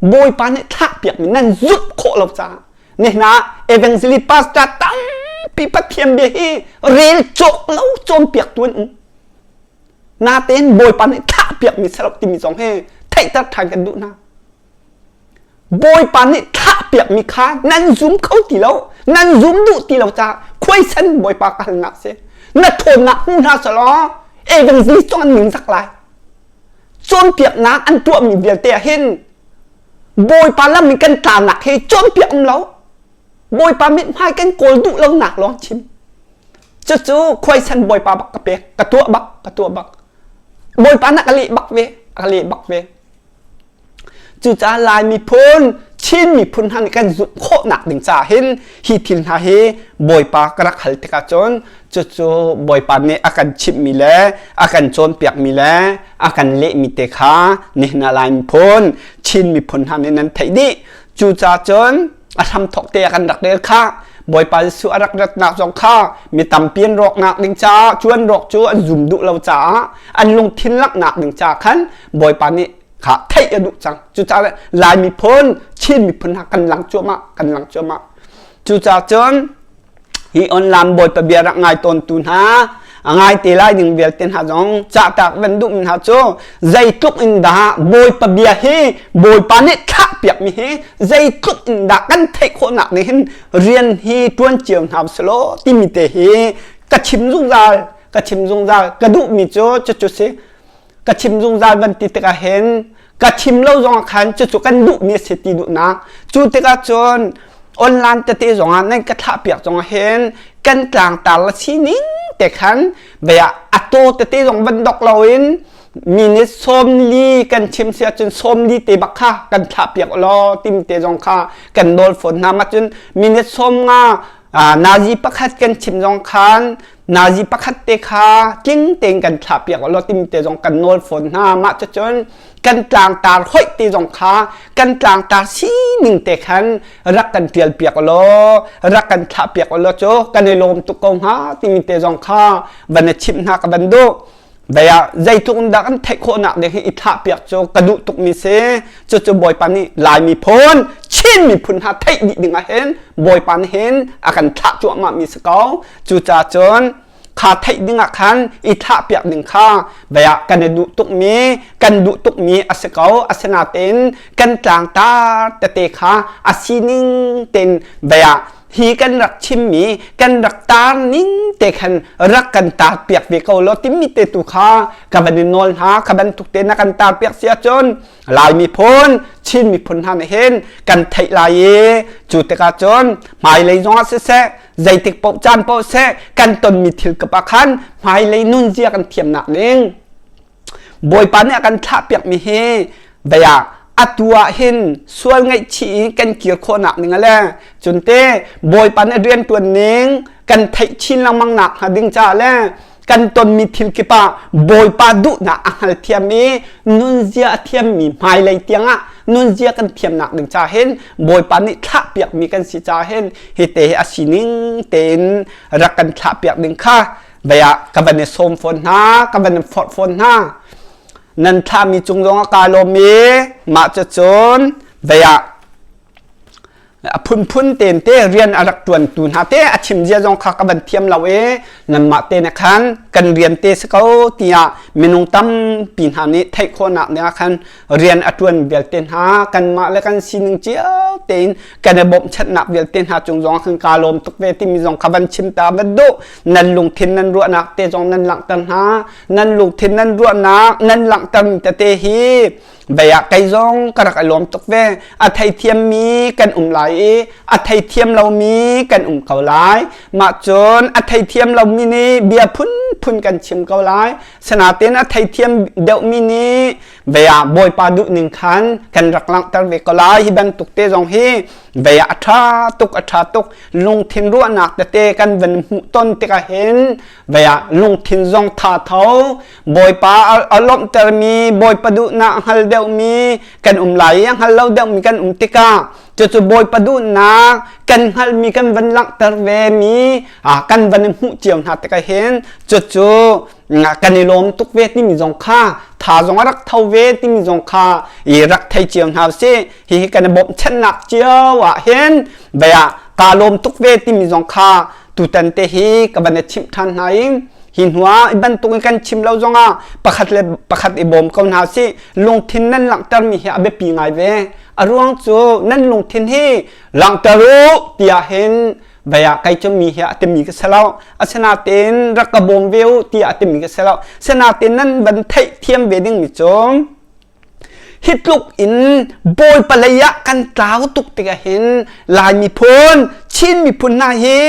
Bawipa nih thlahpiakmi nan zumh khawh lo caah nihin ah evangelist pastor tampi pathian bia hi rel cawk lo cawnpiaktu an um natein Bawipa nih thlahpiakmi si lo timi zong hi theihter ṭhan kan duh hna Bawipa nih thlahpiakmi kha nan zum kho ti lo nan zum duh ti lo caah khuaisan Bawipa ka halnak si na ṭhawnnak hmu hna selaw evangelist cong an ningzak lai cawnpiaknak an tuahmi vialte ah hin Bawipa lam in kan tlanak hi cawnpiak um lo Bawipa mithmai kan kawl duh lonak lawng chim cucu khuaisan Bawipa bak ka pek ka tuah bak ka tuah bak Bawipa na ka leh bak ve ka leh bak ve Cucaah Lai miphun Chin miphun hna nih kan zulh khawhnak ding caah hin hi thil hna hi Bawipa ka rak hal tikah cun cucu Bawipa nih a kan chimhmi le a kan cawnpiakmi le a kan lehmi te kha nihin ah Lai miphun Chin miphun hna nih nan theih dih cu ca cun a hramthok te kan rak del kha Bawipa Jesuh a rak ratnak zong kha mi tampi an rawknak ding caah cuan rawk cu an zum duh lo caah an lungthin laknak ding caah khan Bawipa nih kha theih a duh cang cucaah Lai miphun Chin miphun ha kan lang cuahmah kan lang cuahmah cucaah cun hi onlam bawipa bia rak ngai tawntu hna a ngai te lai ding vialte hna zong cahtak van duh mi hna cu zeitluk in dah bawipa bia hi bawipa nih thlah piak mi hi zeitluk in dah kan theih khawhnak nih hin rian hi tuan cio hna selaw timi te hi ka chim zungzal ka chim zungzal ka duh mi cu cucu si ka thim zungzal kan ti tikah hin ka thim lo zongah khan cucu kan duhmi a si ti duhnak cu tikah cun online tete zongah nan ka thlahpiak zongah hin kan tlangtar la sining te khan baya ato tete zong van dok loin mi nih sawmli kan chim si ahcun sawmli te bak kha kan thlahpiak law tim te zong kha kan nawl fawn hna ma cun minute sawm nga nazi pakhat kan chim zong khan nazi pakhat te kha tling tein kan thlah piak law tim te zong kan nawl fawn hna mah cun kan tlangtar hoih te zong kha kan tlangtar sining te khan rak kan tial piak law rak kan thlah piak law cu kan i lawm tuk ko hnga timi te zong kha van i chimh hna ka ban duh dai ah zeitluk in dah kan theih khawhnak ding hi i thlah piak cu ka duh tuk mi si cucu bawipa nih laimi phun chin miphun hna theih dih ding ah hin bawipa nih hin a kan thlah cuahmah mi si ko cucah cun kha theih ding ah khan i thlah piak ding kha daya kan i duh tuk mi kan duh tuk mi a si ko asinatein kan tlangtar tete kha a sining ten daya hi kan rak chimmi kan rak tar ning te khan rak kan tar piak ve ko lo timmi te tu kha ka van in nawl hna ka ban tuk te na kan tar piak sia cun lai mi phun chin mi phun hna nih hin kan theih lai i cu tikah cun hmailei zongah siseh zeitik poh caan poh seh kan tonmi thil kapa khan hmailei nunzia kan thiamnak ning Bawipa nih a kan thlahpiakmi hi baya atu ah hin sual ngaihchih i kan kir khawhnak ding le cunte Bawipa nih riantuan ning kan theih chin lengmang nak hnga ding ca le kan tonmi thil kip ah Bawipa duhnak a hngal thiam i nunzia a thiammi hmailei tiangah nunzia kan thiamnak ding ca hin Bawipa nih thlahpiakmi kan si ca hin hi te a sining tein rak kan thlahpiak ding kha baya ka ban som phone hna ka ban phot phone hna nan thla mi chung zong ka lo mi ma chu chun baya a phun phun ten te rian a rak tuan tu hna te a chim zia zong kha ka ban thiam lo e nan ma te ne khan kan rian te se ko tiya minung tam pi hna nih theih khona ne khan rian a ṭuan vialte hna kanmah le kan sining cio tein kan i bawmchannak vialte hna cung zong kan ka lawm tuk ve timi zong kha van chim ta va duh nan lungthin nan ruahnak te zong nan langhter hna nan lungthin nan ruahnak nan langhtermi tete hi baya kai zong ka rak i lawm tuk ve a theithiam mi kan um lai i a theithiam lomi kan um ko lai mah cun a theithiam lomi nih bia phunphun kan chim ko lai Sinain a theithiam deuhmi nih bea bawipa duh ning khan kan rak langhter ve ko lai hi bantuk te zong hi bea a tha tuk a tha tuk lungthin ruahnak tete kan van hmuh ton tikah hin bea lungthin zong tha tho bawipa a lawmhtermi bawipa duhnak hngal deuhmi kan um lai i a hngal lo deuhmi kan um tikah Cucu Bawipa duhnak kan hngalhmi kan van langhter ve mi kan van hmuh cio hna tikah hin cucu kan i lawm tuk ve timi zong kha tha zong a rak tho ve timi zong kha i rak thei cio hna si hihi kan i bawmchannak cio ah hin baya ka lawm tuk ve timi zong kha tutan te hi ka van i chimh than hna i hi hnuah i bantukin kan chim lo zongah pakhat le pakhat i bawm ko hna si lungthin nan langhtermi hi a biapi ngai ve a ruang cu nan lungthin hi langhter u tiah hin baya kai cu mi hi a timi ka selo asinain rak ka bawm ve u tiah a timi ka selo asinain nan van theih thiam ve ding mi cu hi tluk in bawi palei ah kan tlau tuk tikah hin lai miphun chin miphun hna hi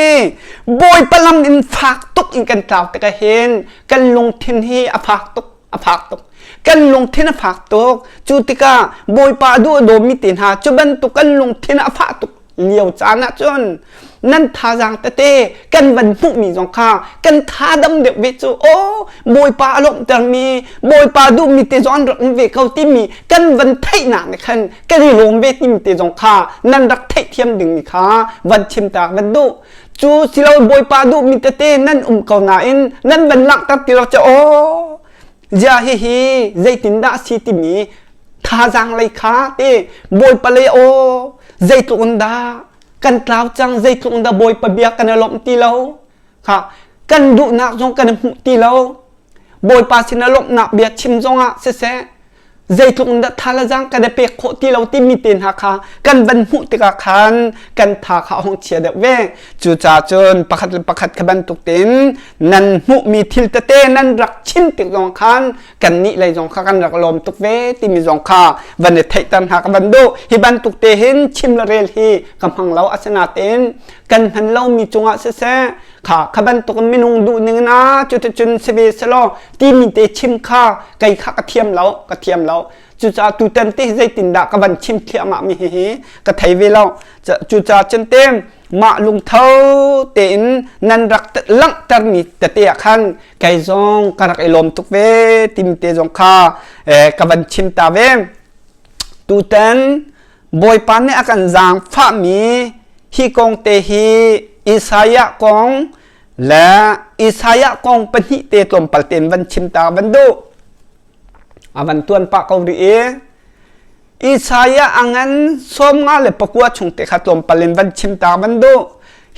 bawi palam in fak tuk in kan tlau tikah hin kan lungthin hi a fak tuk a phak tuk kan lungthin a fak tuk cu tikah bawipa duh a dawmi te hna cu bantuk kan lungthin a fah tuk lio caan ah cun nan thazaang tete kan van hmuhmi zong kha kan tha dam deuh ve cu o bawipa a lawmhtermi bawipa duhmi te zong an rak um ve ko timi kan van theihnak nih khan kan i lawm ve timi te zong kha nan rak theih thiam dingmi kha van chimta van duh cu silo bawipa duhmi tete nan um ko nain nan van langhter ti lo ca aw zia hihi zeitindah si timi thazang lei kha te bawipa lei aw zeitluk in dah kan tlau cang zeitluk in dah bawipa bia kan i lawmh ti lo kha kan duhnak zong kan hmuh ti lo bawipa sin lawmhnak bia chim zongah siseh zeitluk in dah thalazang kan i pek khawh ti lo timi te hna kha kan van hmuh tikah khan kan tha kha a hong chia deuh ve cucaah cun pakhat le pakhat ka bantuk tin nan hmuhmi thil tete nan rak chin tik zong khan kan nih lei zong kha kan rak lawm tuk ve timi zong kha van i theihter hna ka van duh hi bantuk te hin chim le rel hi ka hmang lo asinatein kan hman lomi cungah siseh kha kha bantuk minung duh ning na cu te cun si ve se law ti mi te chim kha kai kha ka thiam lo ka thiam lo cuca tu tan te zeitin dah ka ban chim thiam ma mi hi hi ka thei ve lo cuca chen te mah lungtho tein nan rak langh ter mi te te khan kai zong ka rak i lom tuk ve tim te zong kha ka ban chim ta ve tu tan Bawipa nih a kan zaangfahmi hi kong te hi Isaiah kong le Isaiah kong pahnih te tlawmpal tein van chim ta van duh. A van tuan pah ko rih i Isaiah angan som nga le pakua chung te kha tlawmpal in van chim ta van duh.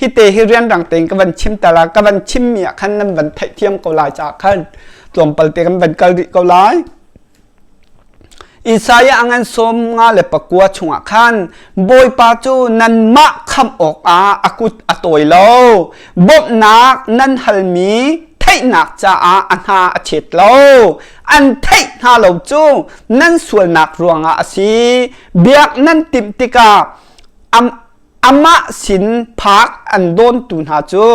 Hi te hi rian rang tein ka van chim ta la, ka van chim mi ah khan nan van theih thiam ko lai ca khan tlawmpal te kan van kal rih ko lai. Isaiah ngan som nga le pakua chungah khan Bawipa cu nanmah khamh awkah a kut a tawi lo bawmhnak nan halmi theihnak caah a hna a chet lo an theih hna lo cu nan sualnak ruangah a si biak nan timh tikah amah sin phak an dawntu hna cu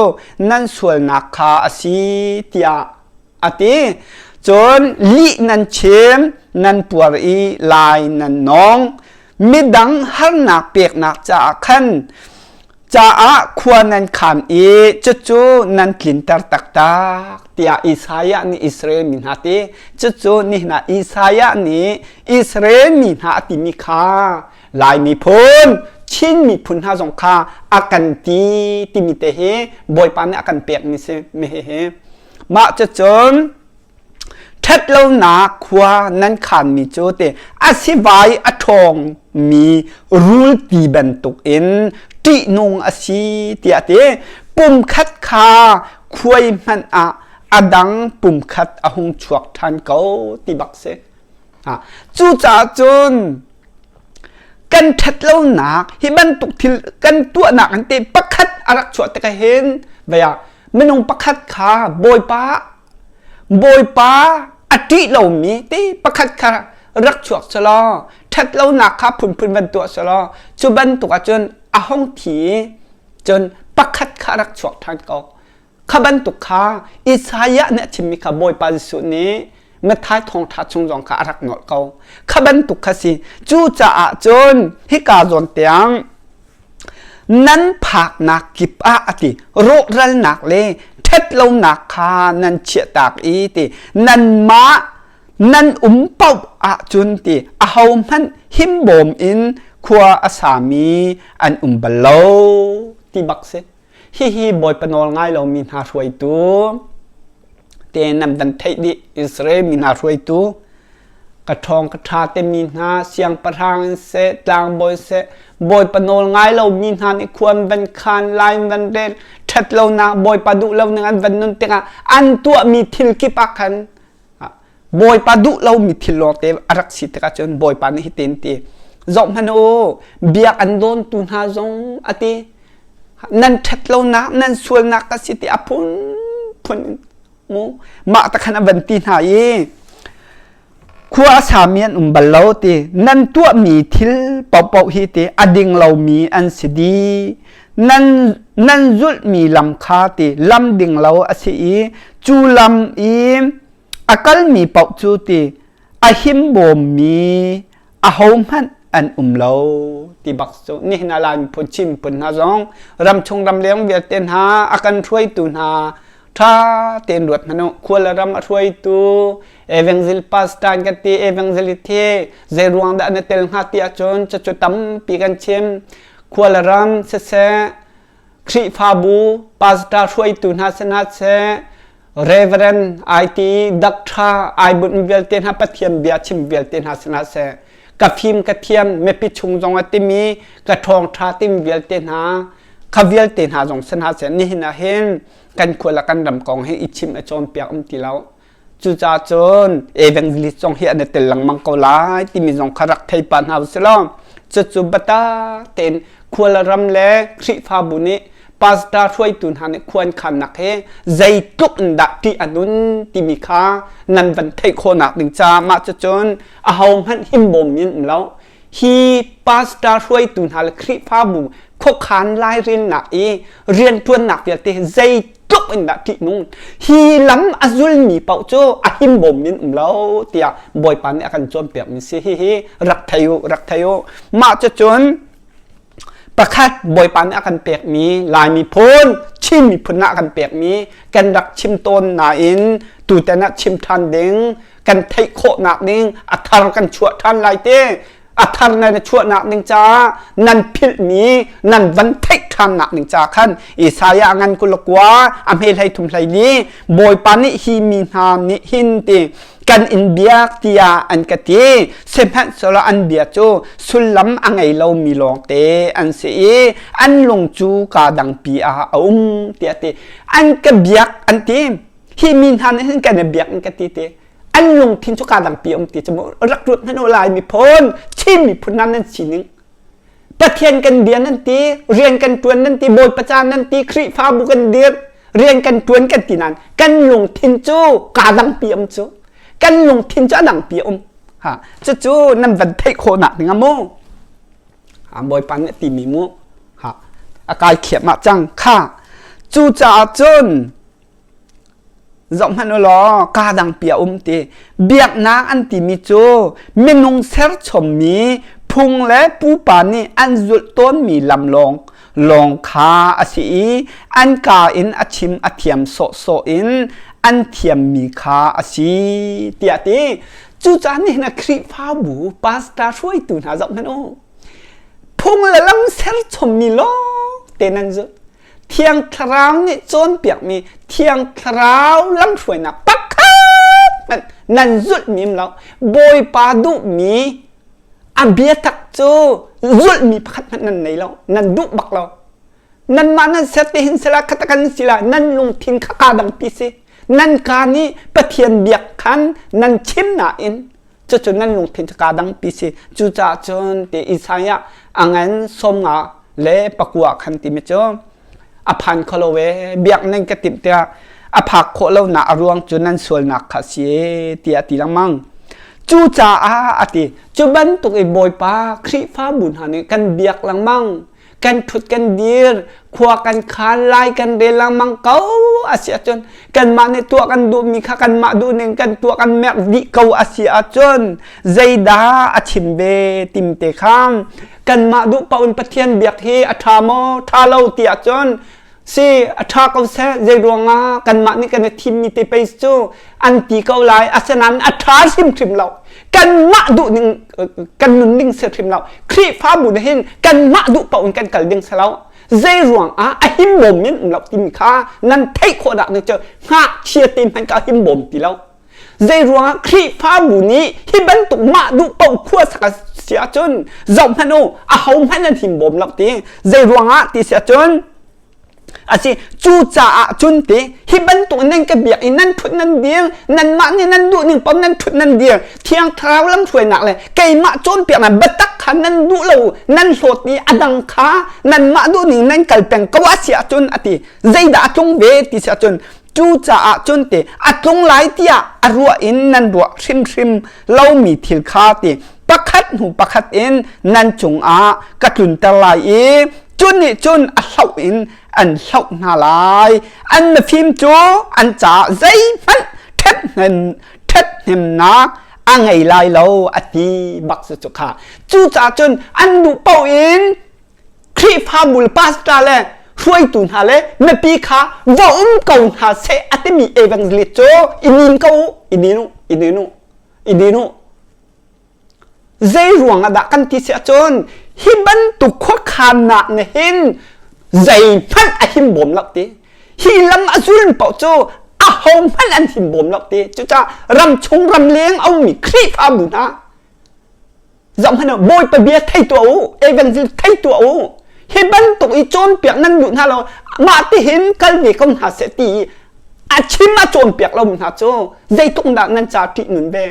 nan sualnak kha a si tiah a ti cun lih nan chim nan puar i lai nan nong midang harnak peknak caah khan caah khua nan khan i cucu nan tlinter taktak tiah Isaiah nih Israel mi hna ti cucu ni hna Isaiah nih Israel mi hna a timi kha lai miphun Chin miphun hna zong kha a kan ti timi te hi Bawipa nih a kan pek ni si me hi mah cu cun ṭhet lonak khua nan khanmi cu te a sivai a ṭhawngmi rul ti bantuk in ṭihnung a si tiah ti pumkhat kha khuai hmanh ah a dang pumkhat a hung chuak ṭhan ko ti bak si Cucaah cun kan ṭhat lonak hi bantuk thil kan tuahnak in te pakhat a rak chuah tik hin vaya minung pakhat kha bawipa bawipa a ṭih lomi te pakhat kha rak chuak selaw ṭhat lonak kha phunphun van tuah selaw cu bantuk ah cun a hong thi cun pakhat kha rak chuak ṭhan ko Kha bantuk kha Isaiah nih a thimmi kha Bawipa Jesuh nih Matthai thawngṭha chung zong kha a rak nolh ko. Kha bantuk kha si. Cu caah cun hika zawn tiang nan phaknak kip ah a ti rawhralnak le ṭhatlonak kha nan chiahtak i ti nan mah nan um paoh ahcun ti ahohmanh himbawm in khua a sami an um bal lo ti bak si. Hihi Bawipa nawl ngai lomi hna hruaitu te nam dan theih dih Israel mi hna hruaitu ka ṭhawng ka ṭha te mi hna siangpahrang in se tlangbawi se Bawipa nawl ngai lo mi hna nih khuan van khan lain van ren ṭhat lonak Bawipa duh lo ning an van nun tikah an tuahmi thil kip ah khan Bawipa duh lomi thil lawngte a rak si tik ahcun Bawipa nih hitin ti zoh hmanh u biak an dawntu hna zong a ti nan ṭhat lonak nan sualnak ka si ti a phun phun mu mah ta khan a van ti hna i khua a sami an um bal lo ti nan tuahmi thil paohpaoh hi ti a ding lomi an si di nan zulhmi lam kha ti lam ding lo a si i cu lam i a kalmi paoh cu ti a himbawmmi ahohmanh an um lo ti bak cu nihin a lai phun chim phun hna zong ram chung ram leng vialte hna a kan hruaitu hna tha ten ruat hmanu khual ram a hruaitu evangelist pastor ka ti evangelist hi zei ruang dah na tel hnga ti ahcun cacu tampi kan chim khua le ram siseh Khrihfabu pastor hruaitu hna sinah seh Reverend IT doctor ai bunh vialte hna pathian bia chim vialte hna sinah seh ka fim ka thiam mepi chung zong a timi ka ṭhawng ṭha tim vialte hna kha vialte hna zong sinah seh nihin ah hin kan khua le kan ram kong hi i chim a cawn piak um ti lo Cucaah cun Evangelist zong hi an i tel lengmang ko lai timi zong kha rak thei pa hna u sih law cucu bata tein khual ram le Khrihfabu nih pastor hruaitu hna nih khuan khannak hi zeitluk in dah tih a nun timi kha nan van theih khawhnak ding caah mah cu cun ahohmanh himbawm in um lo hi pastor hruaitu hna le Khrihfabu khuakhan lairilnak i riantuannak vialte zei tluk in dah ṭihnung hi lam a zulmi paoh cu a himbawm in um lo tiah Bawipa nih a kan cawnpiakmi si hihi rak thei u rak thei u mah cucun pakhat Bawipa nih a kan pekmi Lai miphun Chin miphun ah a kan pekmi kan rak chim tawn nain tutan ah chim ṭhan ding kan theih khawhnak ning a thar kan chuah ṭhan lai te a thar nan i chuahnak ning caah nan philhmi nan van theih ṭhannak ning ca khan Isaiah ngan kulakua a hme hlei thum hlei li Bawipa nih hi mi hna nih hin ti kan in biak tiah an ka ti sihmanhsehlaw an bia cu sullam a ngei lomi lawngte an si i an lung cu ka dangpi ah a um tiah ti an ka biak an ti hi mi hna nih hin kan i biak in ka ti te an lungthin cu kaa dampi um ti cu rak ruat hnan lai miphun chin miphun nam nan sining pathian kan bia nan ti rian kan tuan nan ti bawipa caan nan ti khrihfabu kan dir rian kan tuan kan ti nan kan lungthin cu kaa dampi um cu kan lungthin cu a dampi um ha cucu nan van theih khawh nak ning mu ha bawipa nih ti mi mu ha akai khiam ah cang kha cu caah cun zoh hmanh u law ka dang pi a um ti biaknak an timi cu minung serchommi phung le pupa nih an zulh tawnmi lam lawng lawng kha a si i an ka in a chim a thiam sawhsawh in an thiammi kha a si tiah ti cucah nih na Khrihfabu pastor hruaitu hna zoh hmanh u phung le lam serchommi lawng te nan zulh Thiang Thlarau nih cawnpiakmi Thiang Thlarau lamhruainak pakhat hmanh nan zulh mim lo. Bawipa duhmi a bia tak cu zulhmi pakhat hmanh nan nei lo. Nan duh bak lo. Nanmah nan ser te hin sela khata kan sila nan lungthin kha kaa dangpi si. Nan kaan i Pathian biak khan nan chim nain cucu nan lungthin cu kaa dangpi si cucaah cun ti Isaiah angen sawmnga le pakua khan timi cu a phan kho lo e biak nan ka timh tiah a phak khawh lo nak a ruang cu nan sualnak kha si ti a ti lengmang cu caah a ti cu bantuk i bawipa khrihfabu hna nih kan biak lengmang kan thut kan dir khua kan khan lai kan rel lengmang ko asi ahcun kanmah nih tuah kan duhmi kha kanmah duh ning kan tuah kan merk dih ko asi ahcun zeidah a chim ve timte khang kanmah duh paun pathian biak hi a tha maw tha lo ti ahcun se a tha ko seh zei ruangah kanmah nih kan i thimmi te pei cu an ti ko lai asinain a tha hrim hrim lo kanmah duh ning kan nun ning se hrim lo khrihfabu nih hin kanmah duh paoh in kan kal ding se lo zei ruangah a himbawm in um lo timi kha nan theih khawhnak ning cu ngakchia te hmanh ka himbawm ti lo Zeiruangah Khrihfabu nih hi bantuk mah duh paoh khua sak a si ahcun zoh hmanh u a ho hmanh an him bawm lak ti zeiruangah ti si ahcun a si cu caah cun ti hi bantuk nan ka biak i nan thut nan dir nanmah nih nan duh ning pom nan thut nan dir thiang thlarau lam hruainak le keimah cawnpiaknak biatak kha nan duh lo nan hlawt i a dang kha nanmah duh ning nan kal peng ko a si ahcun a ti zeidah a tlung ve ti si ahcun cu caah cun te a tlung lai tiah a ruah in nan ruah hrimhrim lomi thil kha ti pakhat hnu pakhat in nan cungah ka tlunter lai i cun nih cun a hloh in an hloh hna lai an mifim cu an caah zeihmanh ṭhathnemnak a ngei lai lo a ti bak su cu kha cucaah cun an duh paoh in Khrihfabu pastor le hruaitu hna le mipi kha va um ko hna seh a timi evangelist cu i nin ko i nin u i nin u i nin u zei ruang ah dah kan ti si ahcun hi bantuk khuakhannak ne hin zei hmanh a him bawm lo ti hi lam a zul paoh cu a ho hmanh an him bawm lo ti cucah ram chung ram leng a ummi Khrihfabu hna Zohhmanh u, Bawipa bia thei tuah u, evangelist thei tuah u. Hi bantuk i cawnpiak nan duh hna lo, mah tihin kal ve ko hna seh ti a chim a cawnpiak lomi hna cu zeitluk dah nan ca ṭih nun ve.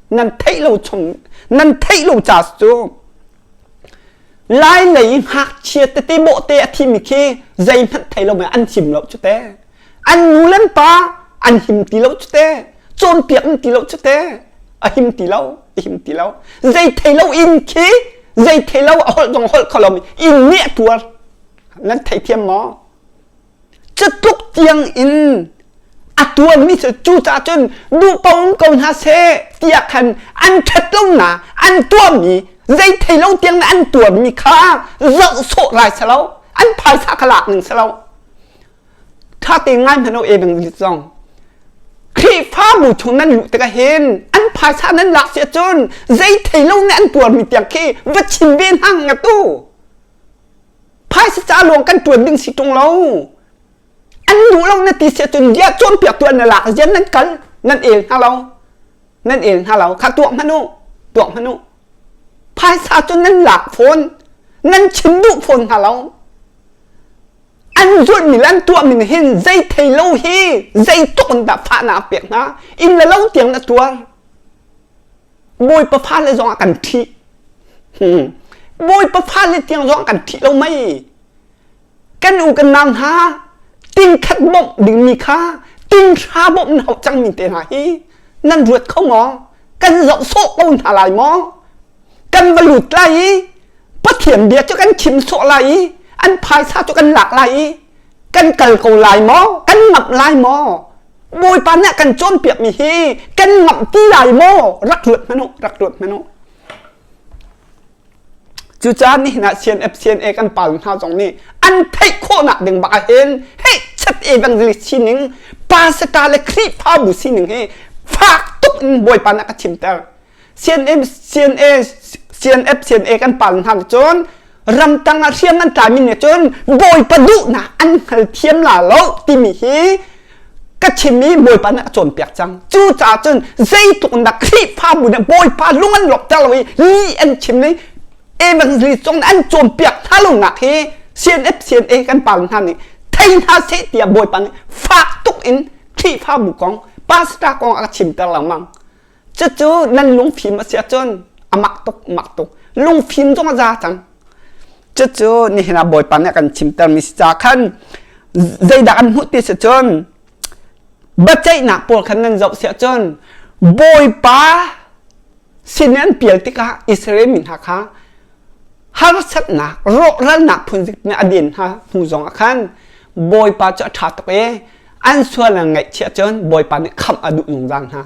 Nan theih lo chung, nan theih lo ca cu lai lei ngakchia tete bawhte a thimi khi zeihmanh thei lo an him lo cu te. An nu le pa an him ti lo cu te, cawnpiak in ti lo cu te, a him ti lo. tim ti lo zei thei lo in khi zei thei lo a holh dong holh kho lo in nih tuar nan thei thiam maw cu tluk tiang in a tuan mi cu cu ca cun duh paun ko hna se tiah khan an ṭhat lo na an tuam mi zei thei lo tiang na an tuan mi kha zoh sawh lai sa lo an phaisa ka lak ning sa lo ṭha tein ngai hmanh law e bang lit zong Khrihfabu chung nan luh tikah hin an phaisa nan lak si ahcun zei thei lo nih an tuarmi tiang khi va chim ve hang nga tu phaisa ca luang kan tuan ding si ṭung lo an lu lo na ti si ahcun dia cawnpiak tu an na lak zian nan kal nan el hna lo nan el hna lo kha tuak hmanu tuak hmanu phaisa cun nan lak phone nan chim duh phone hna lo an zulhmi le an tuahmi nih hin zei thei lo hi zeitluk in dah fahnak a pek hna inn le lo tiang na tuar bawipa fale zong ah kan ṭhi hmm. bawipa fale tiang zong ah kan ṭhi lo mei kan u kan nau hna tin khat bawmh dingmi kha tin hra bawmh na hauh cangmi te hna hi nan ruat kho maw kan zoh sawh ko hna lai maw kan va lut lai i Pathian bia cu kan chim sawh lai i an phaisa cu kan lak lai i kan kal ko lai maw kan ngamh lai maw bawipa nih kan cawnpiakmi hi kan ngamh ti lai maw rak luat hmanh u rak luat hmanh u cucaah nihin ah CNFCNA kan pal hna zong nih an theih khawhnak ding bak ah hin hei chat evangelist sining pasaka le khrihfabu sining hi fak tuk in bawipa nih a ka chimter CNM CNA CNF CNA kan pal hna cun ramtang ah hriang an tlamin ne cun bawipa duhnak an hngal thiam la lo timi hi ka chim i bawipa na cawn piak cang cu caah cun zeitluk na khrihfa bu na bawipa lung an lok ter lo i li an chim ni evangelism an cawn piak hna lo nak hi CNF CNA kan pal hna nih thei hna se tiah bawipa nih fak tuk in khrihfa bu kong pastor kong a chim ter lengmang cucu nan lungfim a si ahcun a mak tuk mak tuk lungfim zong a za cang cucu nihin ah bawipa nih kan chimtermi si ca khan zeidah kan hmuh ti si cun biaceihnak pawl khan nan zoh si ahcun bawipa sin an pial tikah Israel mi hna kha harsatnak rawhralnak phunzik nih a den hna hnu zong ah khan bawipa cu a ṭha tuk e an sual an ngaihchih ahcun bawipa nih khamh a duh zungzal hna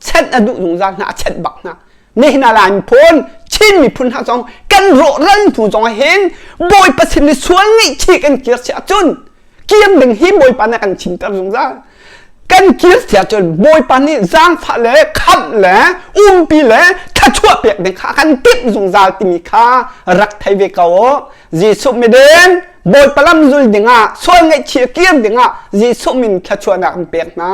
chanh a duh zungzal hna a chanh bak hna nehna la in phone chin miphun hna zong kan rawh ran hnu zong hin bawi pasin ni sual ngeih chi kan kir si ahcun kiam ding hi bawipa na kan chimter zungzal kan kir si ahcun bawipa nih zaangfah le khamh le umpi le thlachuah pek ding kha kan timh zungzal timi kha rak thei ve ko jesuh midin bawipa lam zul dingah sual ngeih chi kir dingah jesuh min thlachuahnak an pek hna